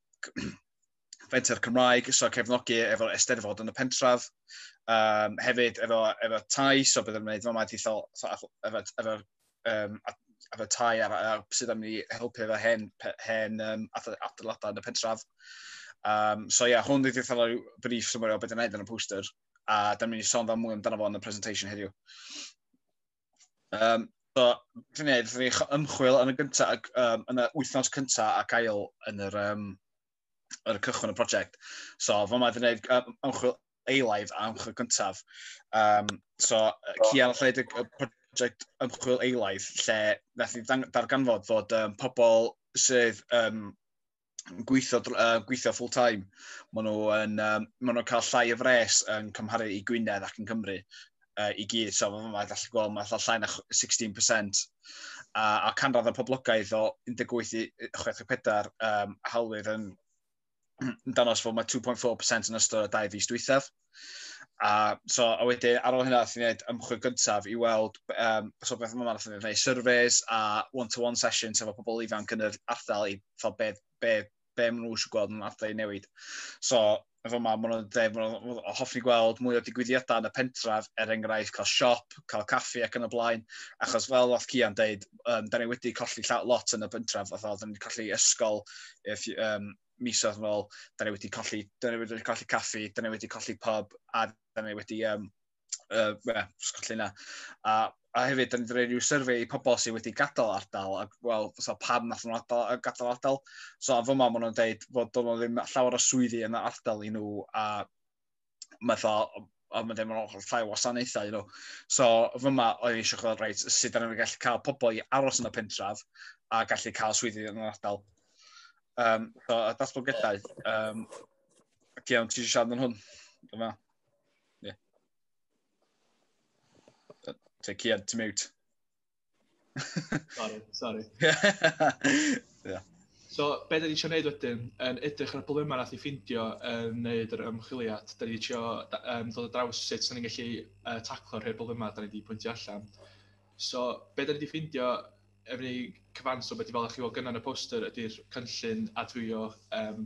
Fenter Cymraeg, so cefnogi efo Eisteddfod yn y pentref, um, hefyd efo, efo tai, so byddwn yn gwneud fama dithol, so, efo, efo, um, efo tai a, a sydd am ni helpu efo hen, hen um, adeiladau yn y pentref. Um, so ie, yeah, hwn wedi ddethol rhyw brif symwyr o beth yn edrych yn y poster, a da ni'n mynd i sôn fel mwy amdano fo yn y presentation heddiw. Um, so, dwi'n ei, dwi'n ei ymchwil yn y gyntaf, um, yn y wythnos cyntaf ac ail yn yr, um, ar y cychwyn y prosiect. So, fo mae wedi gwneud um, ymchwil eilaidd a ymchwil cyntaf. Um, so, Cian lle wedi prosiect ymchwil eilaidd lle nath ni darganfod fod um, pobl sydd um, gweithio, uh, gweithio full time, maen nhw'n um, ma nhw cael llai o fres yn cymharu i Gwynedd ac yn Cymru. uh, i gyd. So, fe mae gallu gweld, mae allan llai na 16%. A, a canradd y poblogaeth o 18 i 64 um, hawlydd yn, yn danos fod mae 2.4% yn ystod y dau fus dwythaf. A, so, a wedyn, ar ôl hynna, allwn ni wneud ymchwil gyntaf i weld um, so beth yma, allwn ni wneud surveys a one-to-one -one sessions efo pobl ifanc yn yr ardal i fel be, be be maen nhw eisiau gweld yn adau i newid. So, efo ma, maen nhw'n dweud, maen nhw hoffi gweld mwy o digwyddiadau yn y pentref, er enghraifft cael siop, cael caffi ac yn y blaen, achos fel oedd Cian dweud, um, da ni wedi colli lot yn y pentref, oedd oedden ni colli ysgol, if, um, mis oedd yn ôl, da ni wedi colli, da ni wedi colli caffi, da ni wedi colli pub, a da ni wedi um, uh, yeah, sgwrllu na. A, a hefyd, da ni wedi rhoi rhyw survey i pobl sydd wedi gadael ardal, a wel, so, pam nath nhw'n adael, gadael ardal. So, a fy mam nhw'n dweud fod do'n ddim llawer o swyddi yn y ardal i nhw, a mae dda, a mae ddim yn ochr llai o wasanaethau, you know. So, fy ma, oedd eisiau chwilio, reit, sut da ni'n gallu cael pobl i aros yn y pentraf a gallu cael swyddi yn yr ardal. Um, so, y datblygiadau, um, Cian, ti eisiau siarad yn hwn? Dyma. Ie. Te Cian, ti'n mute. sorry, sorry. yeah. So, be da ni eisiau gwneud wedyn, yn edrych ar y problemau nath ni ffindio yn wneud yr ymchwiliad, da ni eisiau um, dod o draws sut da ni'n gallu uh, taclo'r rhai problemau da ni wedi pwyntio allan. So, be da ni wedi ffindio yr un cyfanswm ydy fel o'ch chi weld gynna yn y poster ydy'r cynllun adfywio um,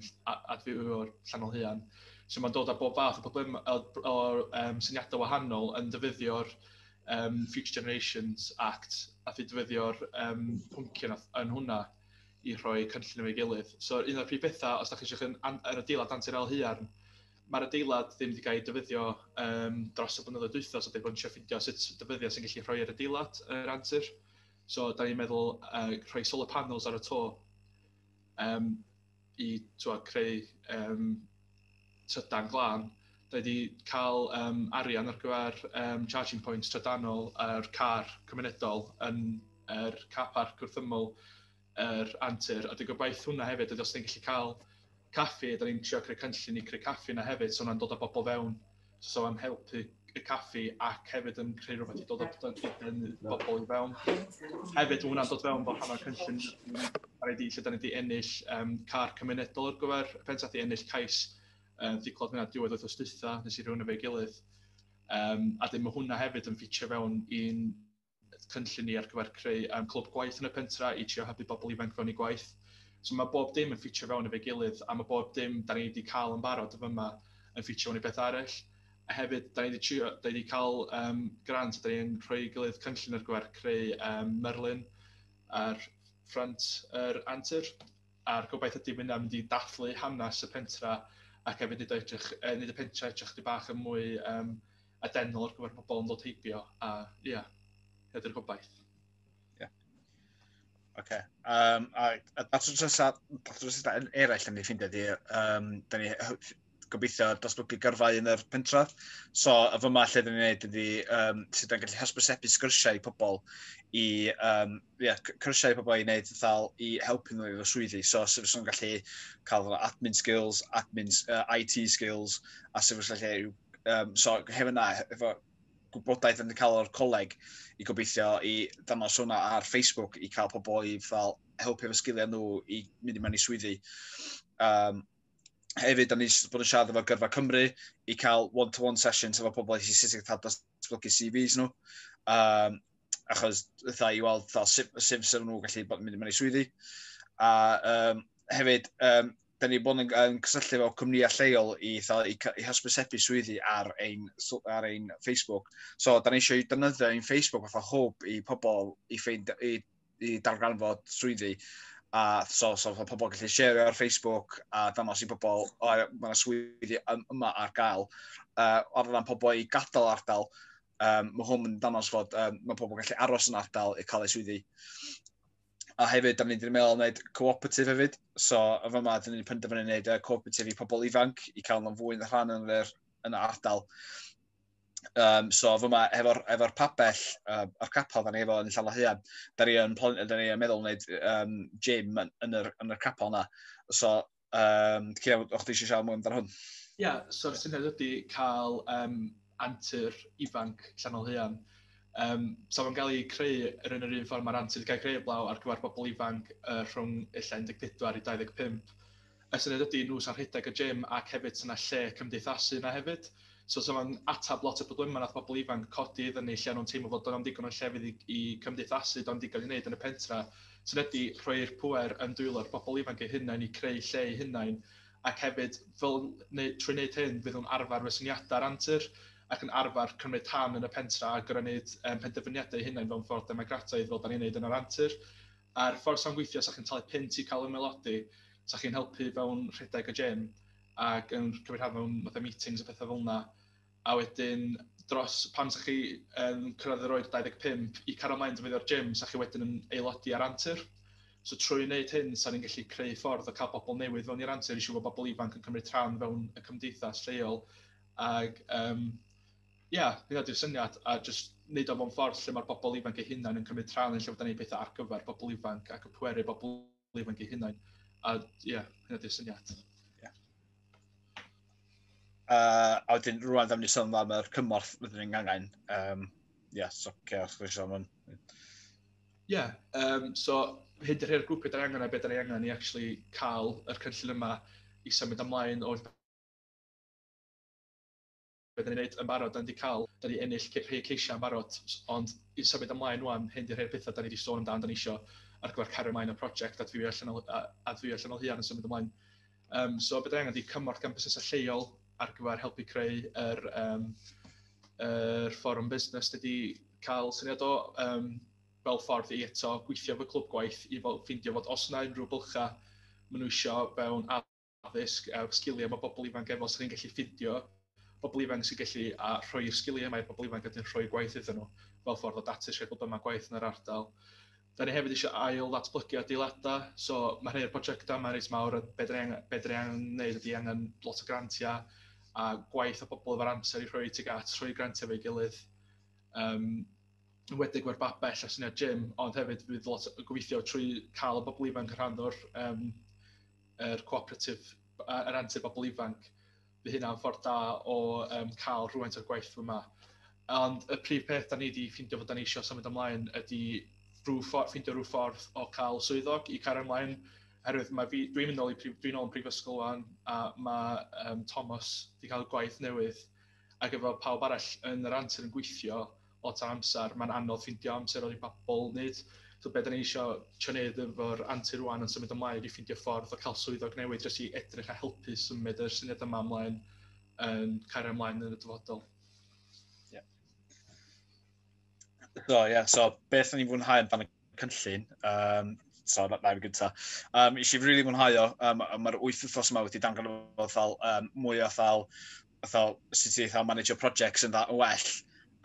adfywio'r Llanol Huan. So mae'n dod â bob fath o problem o, o um, syniadau wahanol yn dyfyddio'r um, Future Generations Act a fyd dyfyddio'r um, pwncion yn hwnna i rhoi cynllun efo'i gilydd. So un o'r prif bethau, os da chi eisiau yn, yn yr adeilad Antir El Huan, mae'r adeilad ddim wedi cael ei dyfyddio um, dros y blynyddoedd dwytho, so da bod yn eisiau ffindio sut dyfyddiau sy'n gallu rhoi yr adeilad yr antur. So, da ni'n meddwl uh, rhoi solar panels ar y to um, i twa, creu um, trydan glân. Da wedi cael um, arian ar gyfer um, charging points trydanol a'r car cymunedol yn yr er car park wrth ymwyl yr antur, a dwi'n gobaith hwnna hefyd, os da ni'n gallu cael caffi, da ni'n trio creu cynllun i creu caffi yna hefyd, so hwnna'n dod â bobl fewn, so am helpu y caffi ac hefyd yn creu rhywbeth i dod â bobl i fewn. Hefyd, mae hwnna'n dod fewn bod rhan o'r cynllun ar ei di, lle da ni wedi ennill um, car cymunedol ar gyfer y pensaeth, wedi ennill cais um, diclod hwnna diwedd oedd ostytha, nes i rhywun efo'i gilydd. Um, a dyn mae hwnna hefyd yn ffitio fewn i'n cynllun ni ar gyfer creu um, clwb gwaith yn y pentra i trio hybu bobl ifanc fewn i gwaith. So mae bob dim yn ffitio fewn efo'i gilydd a mae bob dim da ni wedi cael yn barod o fyma yn ffitio fewn i beth arall. A hefyd, da ni wedi, trio, da ni wedi cael um, grant, da ni'n rhoi gilydd cynllun ar gyfer creu um, myrlun ar ffrant yr er antur. A'r gobaith ydy mynd am mynd i dathlu hanes y pentra ac hefyd nid, edrych, nid y pentra edrych di bach yn mwy um, a dengol ar gyfer pobl yn dod heibio, a ia, yeah, hedi'r gobaith. Ie. Yeah. Oce. Um, a, a, a trosysau yn eraill yn ei ffindio di, um, da ni gobeithio dosbygu gyrfau yn yr pentref. So, y fyma lle dyn ni'n gwneud ydy um, sydd yn gallu hysbysebu sgyrsiau i pobl i, um, yeah, cyrsiau i pobl i wneud ddal i helpu nhw i fy swyddi. So, sydd yn gallu cael admin skills, admin, uh, IT skills, a sydd yn gallu um, so hefyd na, efo gwybodaeth yn cael o'r coleg i gobeithio i ddanos hwnna ar Facebook i cael pobl i fel helpu efo sgiliau nhw i mynd i mewn i swyddi. Um, hefyd, da ni wedi bod yn siarad efo Gyrfa Cymru i cael one-to-one -one sessions efo pobl i sut i cael datblygu CVs nhw. Um, achos dda i weld dda, sut, sut sy'n nhw'n gallu bod yn mynd mewn i swyddi. A um, hefyd, um, da ni bod yn, yn cysylltu efo cwmnïau lleol i, dda, i, i hysbysebu swyddi ar ein, ar ein Facebook. So, da ni eisiau defnyddio ein Facebook fatha hwb i pobl i, ffeind, i, i darganfod swyddi. A so, so, so pobl gallu share ar Facebook a dangos i pobl, o, mae yna swyddi yma ar gael. Uh, ar ran pobl i gadael ardal, Um, mae hwn yn danos fod um, mae pobl yn gallu aros yn ardal i cael eu swyddi. A hefyd, da ni'n mynd i'n meddwl wneud cooperatif hefyd. So, y fy yma, da ni'n penderfynu wneud uh, cooperatif i pobl ifanc i cael nhw'n fwy yn y rhan yn yr yn y ardal. Um, so, fy yma, efo'r efo pabell, uh, o'r capel, da ni efo yn y llawn hyn, da ni'n ni meddwl wneud um, gym yn, yn, yr, yn yr capel yna. So, Um, Cian, o'ch ti eisiau siarad mwy amdano hwn? Ia, yeah, so'r syniad ydy cael um, antur ifanc llanol huan. Um, so mae'n cael ei creu yr un yr un ffordd mae'r antur wedi cael ei creu blaw ar gyfer bobl ifanc uh, rhwng illa 14 i 25. Y syniad ydy nhw sy'n rhedeg y gym ac hefyd sy'n lle cymdeithasu yna hefyd. So, so mae'n atab lot o problemau nath pobl ifanc codi iddyn ni, lle nhw'n teimlo fod o'n ddigon o llefydd i, i cymdeithasu, do'n digon i wneud yn y pentra, sy'n ydy rhoi'r pwer yn dwylo'r pobl ifanc eu hunain i creu lle eu hunain, ac hefyd, fel, neu, trwy wneud hyn, fydd nhw'n arfer fy syniadau'r antur, ac yn arfer cymryd rhan yn y pentra a gorau wneud um, penderfyniadau eu hunain fel ffordd democrataidd fel da ni'n wneud yn yr antur. A'r ffordd sa'n gweithio, sa chi'n talu pint i cael ymelodi, sa chi'n helpu fewn rhedeg y gym, ac yn cymryd rhan mewn fatha meetings a petha fel 'na, a wedyn dros... pan 'sa chi yn cyrraedd yr oed 25, i cario ymlaen defnyddio'r gym, 'sa chi wedyn yn aelodi ar Antur. So trwy wneud hyn, 'sa ni'n gallu creu ffordd o cael pobl newydd fewn i'r Antur i siŵr bod pobl ifanc yn cymryd rhan fewn y cymdeithas lleol. Ac yym ia, hynna 'di'r syniad, a jyst wneud o mewn ffordd lle ma'r bobl ifanc eu hunain yn cymryd rhan, lle fyddan ni'n gwneud pethau ar gyfer pobl ifanc ac yn pweru bobl... bodoli ifanc eu hunain. A ie, hynny ydy'r syniad. Yeah. Uh, a wedyn, rwan am ni sôn am yr cymorth wedyn yn gangen. Um, yeah, so, okay, os gwrs am hwn. Ie, yeah, um, so hyd yr hyn grwpiau da angen a beth da angen i actually cael yr cynllun yma i symud ymlaen o'r be dan ni'n neud yn barod, dan ni 'di ca'l, dan ni ennill ce- rhei ceisia' yn barod, ond i symud ymlaen ŵan, hyn 'di rhei'r petha' dan ni 'di sôn amdan, dan ni isio ar gyfer cario mlaen y project adfywio allanol a- adfywio allanol Huarn yn symud ymlaen. Yym so be dan ni angen 'di cymorth gan busnesau lleol ar gyfer helpu creu yr yym yr fforwm busnes dydy cael syniad o yym fel ffordd i eto gweithio efo clwb gwaith i fel ffeindio fod os 'na unrhyw bylchau maen nhw isio fewn addysg a sgiliau mae pobl ifanc efo, os da ni'n gallu ffindio pobl ifanc sy'n gallu a rhoi'r sgiliau mae pobl ifanc yn rhoi gwaith iddyn nhw fel ffordd o datus rhai pobl yma gwaith yn yr ardal. Da ni hefyd eisiau ail ddatblygu adeiladau, so mae rhai o'r prosiectau yma reit mawr, be da ni'n be da ni wneud ydy angen lot o grantiau a gwaith o bobl efo'r amser i rhoi tuag at rhoi grantiau fe'i gilydd. Um, yn wedig mae'r babell a syniad Jim, ond hefyd bydd lot o gobeithio trwy cael y bobl ifanc yn rhan o'r um, yr cooperatif, yr antur bobl ifanc, fy hynna'n ffordd da o um, cael rhywfaint o'r gwaith fy yma. Ond y prif peth da ni wedi ffeindio fod da ni eisiau symud ymlaen ydy rhyw ffordd, ffeindio rhyw ffordd o cael swyddog i cario ymlaen. Herwydd mae fi, dwi'n mynd ôl i dwi'n ôl yn prifysgol wan, a mae um, Thomas wedi cael gwaith newydd ac efo pawb arall yn yr antur yn gweithio, lot o amser, mae'n anodd ffeindio amser ar ei babl, nid so beth ni'n eisiau trio wneud efo'r antur rwan yn symud ymlaen ydy ffeindio ffordd o cael swyddog newydd dros i edrych a helpu symud yr syniad yma ymlaen yn cario ymlaen yn y dyfodol. Yeah. So, yeah, so beth ni'n fwynhau amdano cynllun, um, so na, na fi gyntaf. Um, eisiau rili really mwynhau o, um, mae'r wyth wythnos yma wedi dangan o fel um, mwy o fel fatha, sut i fatha manager projects yn dda yn well,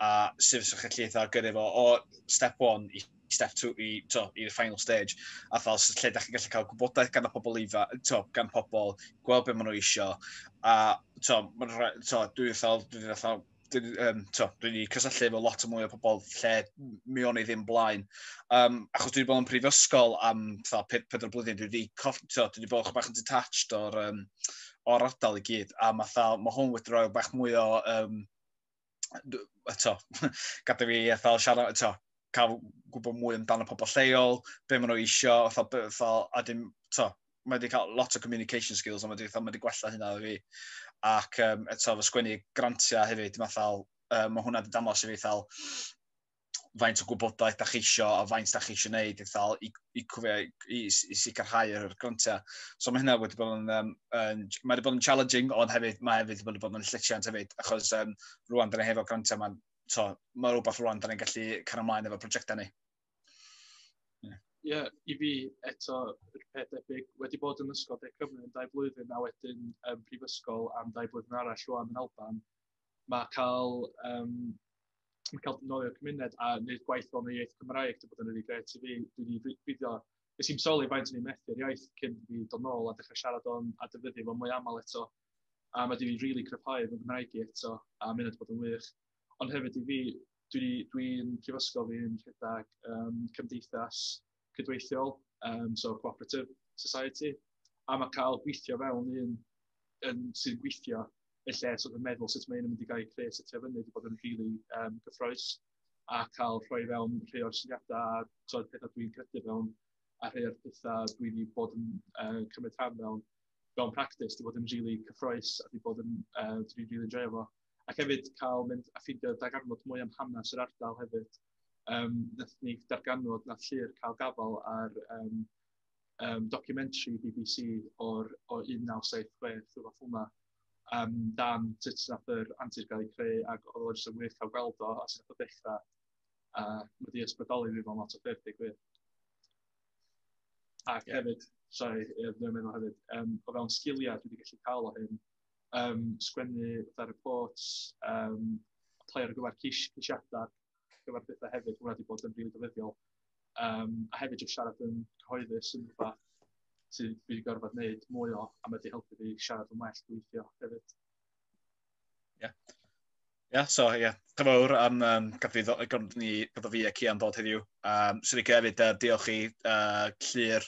a sut fysa chi'n gallu fatha gyrru fo o step 1 i step 2 i, to, i'r final stage, a fel lle da chi'n gallu cael gwybodaeth gan y pobl ifa, to, gan pobl, gweld beth maen nhw eisiau, a to, maen nhw, to, dwi'n fel, dwi'n fel, dwi'n um, dwi wedi cysylltu efo lot o mwy o pobl lle mi o'n i ddim blaen. Um, achos dwi wedi bod yn prifysgol am 4 blwyddyn, dwi wedi, dwi wedi bod yn bach yn detached o'r um, o'r ardal i gyd, a mae fel, mae hwn wedi rhoi bach mwy o, um, eto, gadw fi eithaf siarad, eto, cael gwybod mwy amdano pobl lleol, be maen nhw eisiau, fel, fel, a dim, to, mae wedi cael lot o communication skills, ond mae wedi, mae wedi gwella hynna i fi. Ac um, eto, fy sgwennu grantiau hefyd, mae fel, um, mae hwnna wedi dangos i fi fel, faint o gwybodaeth da chi eisiau a faint da chi eisiau gwneud i, ddal, i, i, i, i sicrhau yr grantiau. So mae hynna wedi bod yn, um, yn mae wedi bod yn challenging, ond hefyd mae hefyd wedi bod yn llesiant hefyd, achos um, rwan dyn ni hefo grantiau, mae'n so, mae rhywbeth rwan dyn ni'n gallu cario ymlaen efo prosiectau ni. Ie, yeah, i fi eto, yr peth debyg, wedi bod yn ysgol De Cymru yn dau blwyddyn a wedyn um, prifysgol am dau blwyddyn arall rwan yn Alban, mae cael, um, mae cael dynolio cymuned a wneud gwaith o'n iaith Cymraeg, dwi'n bod yn rili gret i fi, dwi'n i fideo, nes i'n soli faint o'n i'n methu'r iaith cyn fi dod nôl a dechrau siarad o'n a defnyddio fo mwy aml eto. A mae dwi'n rili cryfhau fy Gymraeg i eto, a mynd wedi bod yn wych. Ond hefyd i fi, dwi'n dwi prifysgol fi'n rhedeg um, cymdeithas cydweithiol, um, so cooperative society, a mae cael gweithio fewn un yn sy'n gweithio y lle sort of meddwl sut mae'n mynd i gael creu sut ti'n fyny wedi bod yn rili really, um, gyffroes a cael rhoi fewn rhai o'r syniadau a tod pethau dwi'n credu fewn a rhai o'r pethau dwi wedi bod yn uh, cymryd rhan mewn mewn practis, di bod yn rili really cyffroes a di bod yn, uh, dwi'n rili really enjoy fo. Ac hefyd cael mynd a ffindio dagarnod mwy am hanes yr ardal hefyd, um, wnaethon ni darganfod na llyr cael gafel ar um, um, documentary BBC o'r o 1976, rhywbeth hwnna, um, dan sut nath yr antur gael ei creu ac oedd o'n jyst yn wych cael gweld o a sut nath o ddechrau. A uh, mae di ysbrydoli fi fel lot o ffyrdd, digwydd. Ac yeah. hefyd, sorry, dwi'n meddwl hefyd, um, o fewn sgiliau dwi wedi gallu cael o hyn, um, sgwennu fatha reports, um, play ar gyfer ceisiadau, gyfer bethau hefyd, hwnna wedi bod yn rili ddefyddiol. Um, a hefyd jyst siarad yn cyhoeddus yn rhywbeth sydd wedi gorfod wneud mwy o, a mae wedi helpu fi siarad yn well gweithio hefyd. Ie. Yeah. Ie, yeah, so ie, yeah. dyfawr am um, gyfrifo, ni, gyda fi ac Ian ddod heddiw. Um, Swn i'n hefyd uh, diolch i uh, Llyr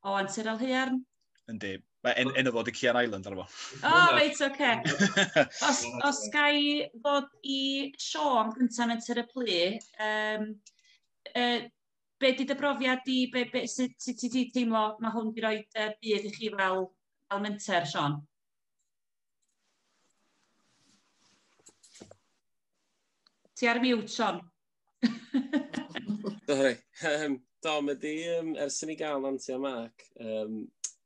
O, Antur Alhaearn. Yndi. Mae en, enw fod y Cian Island arno fo. O, oh, reit, oce. Okay. Os, os gai fod i Sean gyntaf yn tyr y plu, um, uh, be di dy brofiad di, be, be, sut ti ti, ti teimlo mae hwn wedi rhoi uh, byd i chi fel, fel menter, Sean? Ti ar mute, Sean. Sorry. Um, do, mae di, um, ers i ni gael Nanti a Mark, um,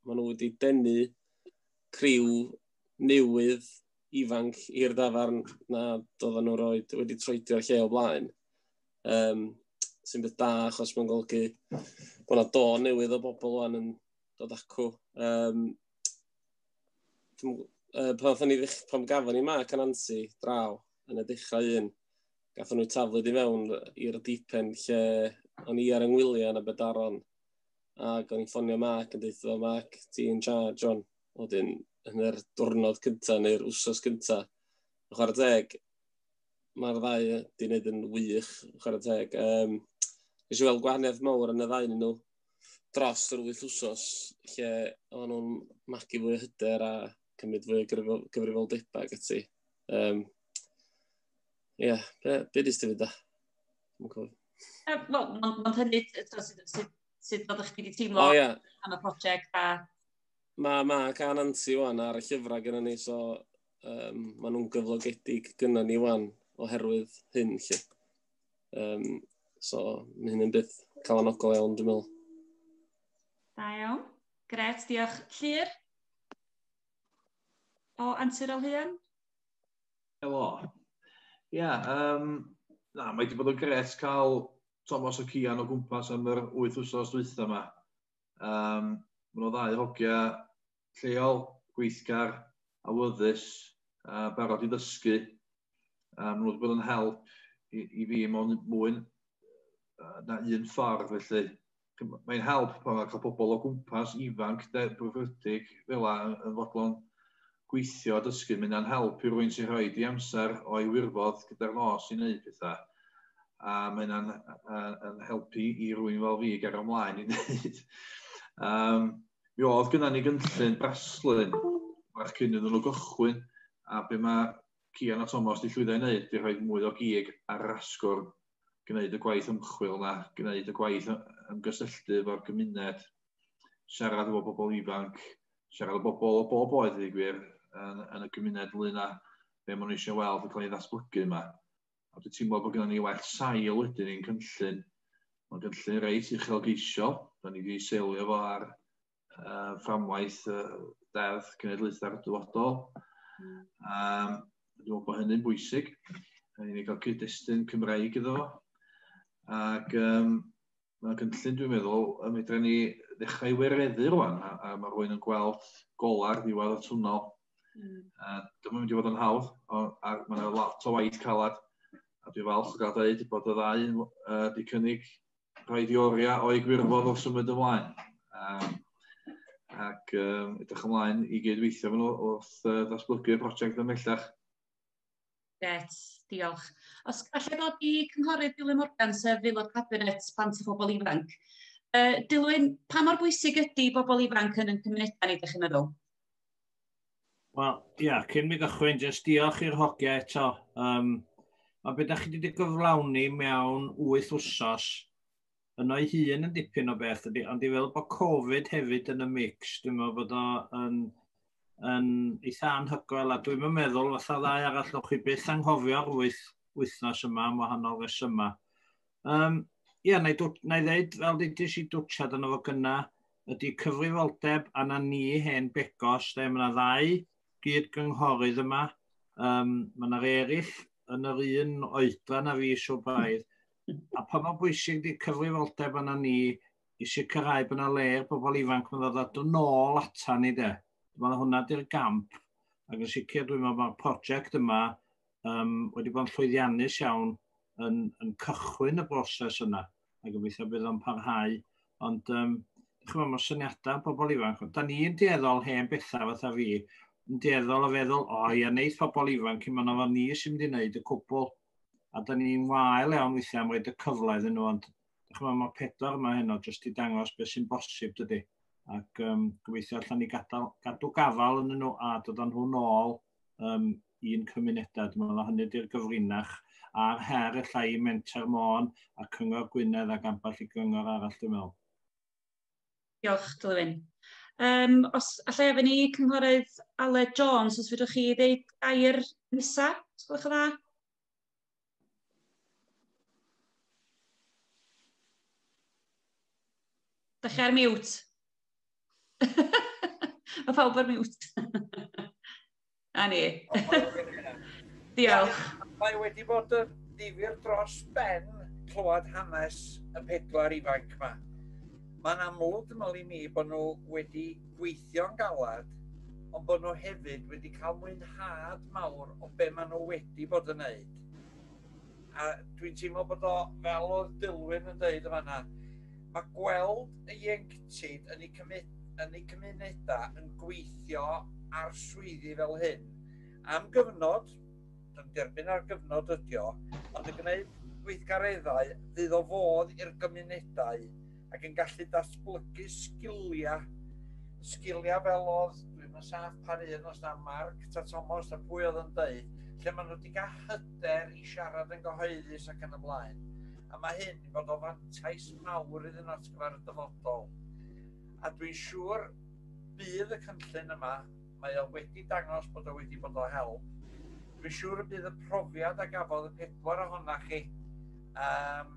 maen nhw wedi denu criw newydd ifanc i'r dafarn na doedden nhw roed wedi troedio'r lle o blaen. Um, sy'n beth da, achos mae'n golygu bod yna do newydd o bobl o'n yn dod acw. Um, uh, pan, ni, pan gafon ni Mark a Nanti draw yn y dechrau un, gatho nhw taflyd i fewn i'r dipen lle o'n i ar yng Ngwylio yn Aberdaron. Ac o'n i'n ffonio Mark yn dweud, o Mark, ti'n charge on. Oedden, yn yr diwrnod cyntaf neu'r wsos cyntaf. Yn chwarae teg, mae'r ddau wedi gwneud yn wych, yn chwarae teg. Um, Nes i weld gwahaniaeth mawr yn y ddau nhw dros yr wyth wsos, lle o'n nhw'n magu fwy o hyder a cymryd fwy o gyfrifoldebau ac ati. Um, Ie, yeah, be, be dis ti fydda? Mae'n hynny sut oeddech chi wedi teimlo oh, yeah. am y prosiect a... Mae ma gan anti wan ar y llyfrau gyda ni, so um, maen nhw'n gyflogedig gyda ni wan oherwydd hyn, lle. Um, so, mae hyn yn byth calanogol iawn, dwi'n meddwl. Da iawn. Gret, diolch. Llyr? O, Antur Alheuan? Helo. Ia, yym, na, mae 'di bod yn gret cael Thomas o Cian o gwmpas am yr wyth wsos dwytha yma. Um, Mae nhw ddau hogia lleol, gweithgar, awyddus, a barod i ddysgu. A maen nhw wedi bod yn help i, i fi mewn mwyn na un ffordd, felly mae'n help pan mae'n cael pobl o gwmpas ifanc, derbyrfydig, fel la yn fodlon gweithio a dysgu. Mae hynna'n help i rwy'n sy'n rhoi di amser o'i wirfodd gyda'r nos i wneud pethau. A mae hynna'n yn helpu i rwy'n fel fi gario ymlaen i wneud. Um, mi oedd gyda ni gynllun braslun bach cyn iddyn nhw gychwyn a be mae Cian a Thomas di llwyddo i wneud di rhoi mwy o gig ar yr asgwrn gwneud y gwaith ymchwil yna, gwneud y gwaith ymgysylltu efo'r gymuned, siarad efo bobl ifanc, siarad efo bobl o bob oed i gwir yn, yn y gymuned ynglyn â be maen nhw eisiau weld yn cael ei ddatblygu yma. A dwi'n teimlo bod gennym ni well sail wedyn i'n cynllun. Mae'n gynllun reit uchelgeisiol, da ni wedi seilio fo ar uh, fframwaith uh, deddf cenedlaethau'r dyfodol. Mm. Um, dwi'n meddwl bod hynny'n bwysig. Rhaid ni gael cyd-destun Cymraeg iddo. Ac um, mae gynllun, dwi'n meddwl, y medra ni ddechrau wereddu rwan, a, a mae rwy'n yn gweld golar ddiwedd y twnnel. Mm. Uh, Dyma'n mynd i fod yn hawdd, a mae yna lot o waith calad. A dwi'n falch o gael dweud bod y ddau uh, di cynnig rhaid i oriau o'i gwirfodd wrth symud ymlaen. Um, ac um, edrych ymlaen i gydweithio fan wrth uh, ddatblygu'r prosiect ymellach. Gret, diolch. Os gallai ddod i cynghorydd Dylan Morgan, sef aelod cabinet plant a phobl ifanc. Uh, Dilwyn, pa mor bwysig ydy bobl ifanc yn ein cymunedau ni, ydych chi'n meddwl? Wel, ia, yeah, cyn mi gychwyn, jyst diolch i'r hogia eto. Um, a beth da chi wedi gyflawni mewn wyth wsos, yno ei hun yn dipyn o beth ydy, ond i fel bod Covid hefyd yn y mix, dwi'n meddwl bod o yn, yn eitha anhygoel, a dwi'n meddwl fatha ddau arall o'ch chi byth anghofio'r wyth wythnos yma am wahanol resymau. Um, ie, na i, dwt, na i ddeud, fel ddudis i dwtshad yn efo gyna, ydy cyfrifoldeb anna ni hen begos, lle mae yna ddau gyd gynghorydd yma, um, mae yna eraill yn yr un oedran a fi so braidd, a pa mor bwysig di cyfrifoldeb anna ni i sicrhau bod yna le i'r bobl ifanc yn ddod at yn ôl atan ni de. Mae hwnna di'r gamp, ac yn sicr dwi'n meddwl mae'r prosiect yma um, wedi bod yn llwyddiannus iawn yn, yn cychwyn y broses yna, a gobeithio bydd o'n parhau. Ond, um, chymod, mae'r syniadau pobl ifanc, da ni'n dueddol hen bethau fatha fi, yn dueddol o feddwl, o, ia, neith pobl ifanc, i yna fo ni sy'n mynd i wneud y cwbl. A da ni'n wael iawn weithiau am roed y cyfle iddyn nhw, ond chymod, mae pedwar yma heno jyst i dangos beth sy'n bosib dydy. Ac um, gobeithio allan ni gadal, gadw gafal yn nhw a dod â nhw nôl um, i'n cymunedau. Dwi'n meddwl hynny di'r gyfrinach a'r her efallai i Menter Môn a Cyngor Gwynedd ac ambell i gyngor arall dwi'n meddwl. Diolch, Glywyn. Um, os allai efo ni cynghorydd Aled Jones, os fydwch chi ddeud air nesaf, os gwelwch yn dda? Da chi ar mute. Mae pawb ar mute. A ni. Diolch. Mae wedi bod yn ddifur dros ben clywed hanes y pedwar ifanc yma. Mae'n amlwg, fel i mi, bod nhw wedi gweithio'n galed, ond bod nhw hefyd wedi cael mwynhad mawr o be maen nhw wedi bod yn wneud. A dwi'n teimlo bod o, fel oedd Dilwyn yn dweud y fanna, mae gweld y ieuenctid yn eu, yn eu cymunedau yn gweithio ar swyddi fel hyn am gyfnod, dwi'n derbyn ar gyfnod ydio, ond yn gwneud gweithgareddau fydd o fodd i'r gymunedau ac yn gallu datblygu sgiliau. Sgiliau fel oedd, dwi'n yn saff pa un os na Mark ta Tomos ta pwy oedd yn dweud, lle maen nhw wedi cael hyder i siarad yn gyhoeddus ac yn ymlaen. A mae hyn i fod o fantais mawr iddyn nhw at gyfer y dyfodol. A dwi'n siŵr bydd y cynllun yma, mae o wedi dangos bod o wedi bod o help. Dwi'n siŵr y bydd y profiad a gafodd y pedwar ohonoch chi um,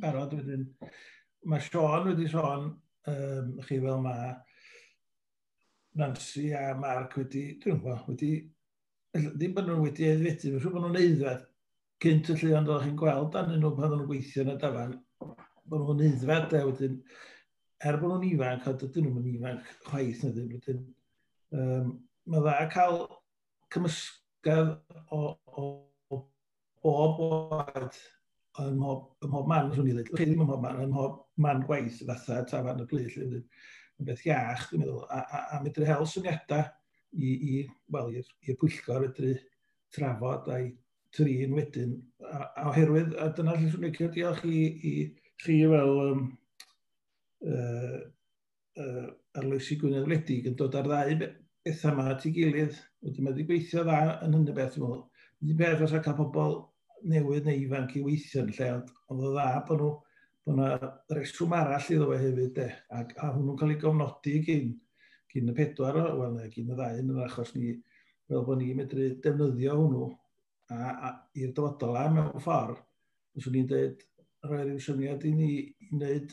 barod wedyn. Mae Sean wedi sôn, um, chi fel mae Nancy a Mark wedi, dwi'n gwybod, wedi, ddim bod nhw wedi edfedu, mae'n siŵr bod nhw'n eiddfed cynt y lle ond oeddech chi'n gweld anyn nhw pan nhw'n gweithio yn y dafan, bod nhw'n eiddfed a wedyn, er bod nhw'n ifanc, a dydyn nhw'n ifanc chwaith na ddim, wedyn, um, mae dda cael cymysgedd o, o, o bob oed, ym mhob, ym mhob man, rhywun i ddweud, chi ddim ym mhob man, ym mhob man gwaith, fatha tafarn y plyd, lle yn beth iach, dwi'n meddwl, a, a, a medru hel syniadau i, i wel, i'r pwyllgor fedru trafod a'i trin wedyn. A, a oherwydd, a dyna lle sy'n licio diolch i, i chi fel um, uh, uh, arloesi Gwynedd Wledig yn dod ar ddau bethau yma at ei gilydd. Wedyn mae wedi gweithio dda yn hynny beth, dwi'n meddwl. Un peth os cael pobl newydd neu ifanc i weithio yn lle, ond oedd o dda bod nhw, bod yna reswm arall iddo fe hefyd, de, a, a hwnnw'n cael ei gofnodi gyn, gyn y pedwar, o, wel, neu gyn y ddau yn yr achos ni, fel bod ni'n medru defnyddio hwnnw a, a i'r dyfodol a mewn ffordd, os o'n i'n dweud, rhoi rhyw syniad i ni i wneud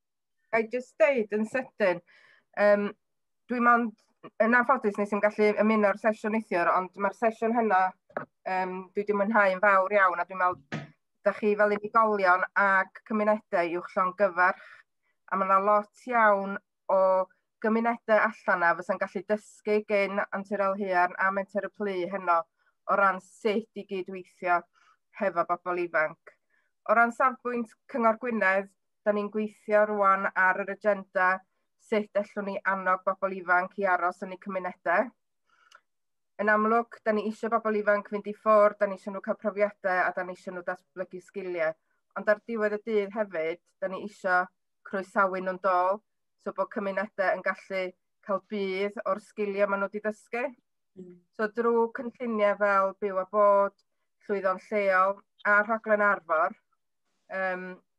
I just deud yn sydyn, um, dwi'n mond yn anffodus nes i'n gallu ymuno ar sesiwn neithiwr, ond mae'r sesiwn hynna um, dwi wedi mwynhau yn fawr iawn a dwi'n meddwl da chi fel unigolion ac cymunedau i'w llon gyfarch a mae yna lot iawn o gymunedau allan na fysa'n gallu dysgu gen Antur Elhuan a Menter y Plu heno o ran sut i gydweithio hefo bobl ifanc. O ran safbwynt Cyngor Gwynedd, Da ni'n gweithio rwan ar yr agenda sut allwn ni annog bobl ifanc i aros yn eu cymunedau. Yn amlwg, da ni eisiau bobl ifanc fynd i ffwrdd, da ni eisiau nhw cael profiadau a da ni eisiau nhw datblygu sgiliau. Ond ar diwedd y dydd hefyd, da ni eisiau croesawu nhw'n dol, so bod cymunedau yn gallu cael budd o'r sgiliau maen nhw wedi dysgu. Mm. So drwy cynlluniau fel byw a bod, llwyddo'n lleol a rhaglen arfor, um,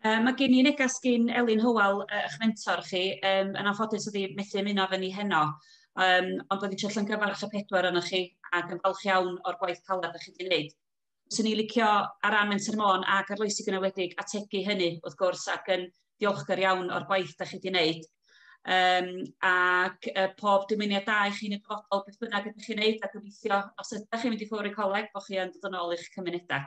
Um, mae gen i neges gyn Elin Hywel, uh, eich mentor chi, um, yn anffodus ydi methu ymuno fe ni heno, um, ond bydd eisiau llyngyfarch y pedwar yna chi ac yn falch iawn o'r gwaith caled ydych chi wedi gwneud. Swn ni licio ar ran Menter Môn ac arloesi gynywedig ategu hynny wrth gwrs ac yn diolchgar iawn o'r gwaith ydych chi wedi gwneud. Um, ac uh, pob dymuniad da i chi'n y dyfodol beth bynnag ydych chi'n gwneud a gobeithio os ydych chi'n mynd i ffwrdd y coleg bod chi'n dod yn ôl i'ch cymunedau.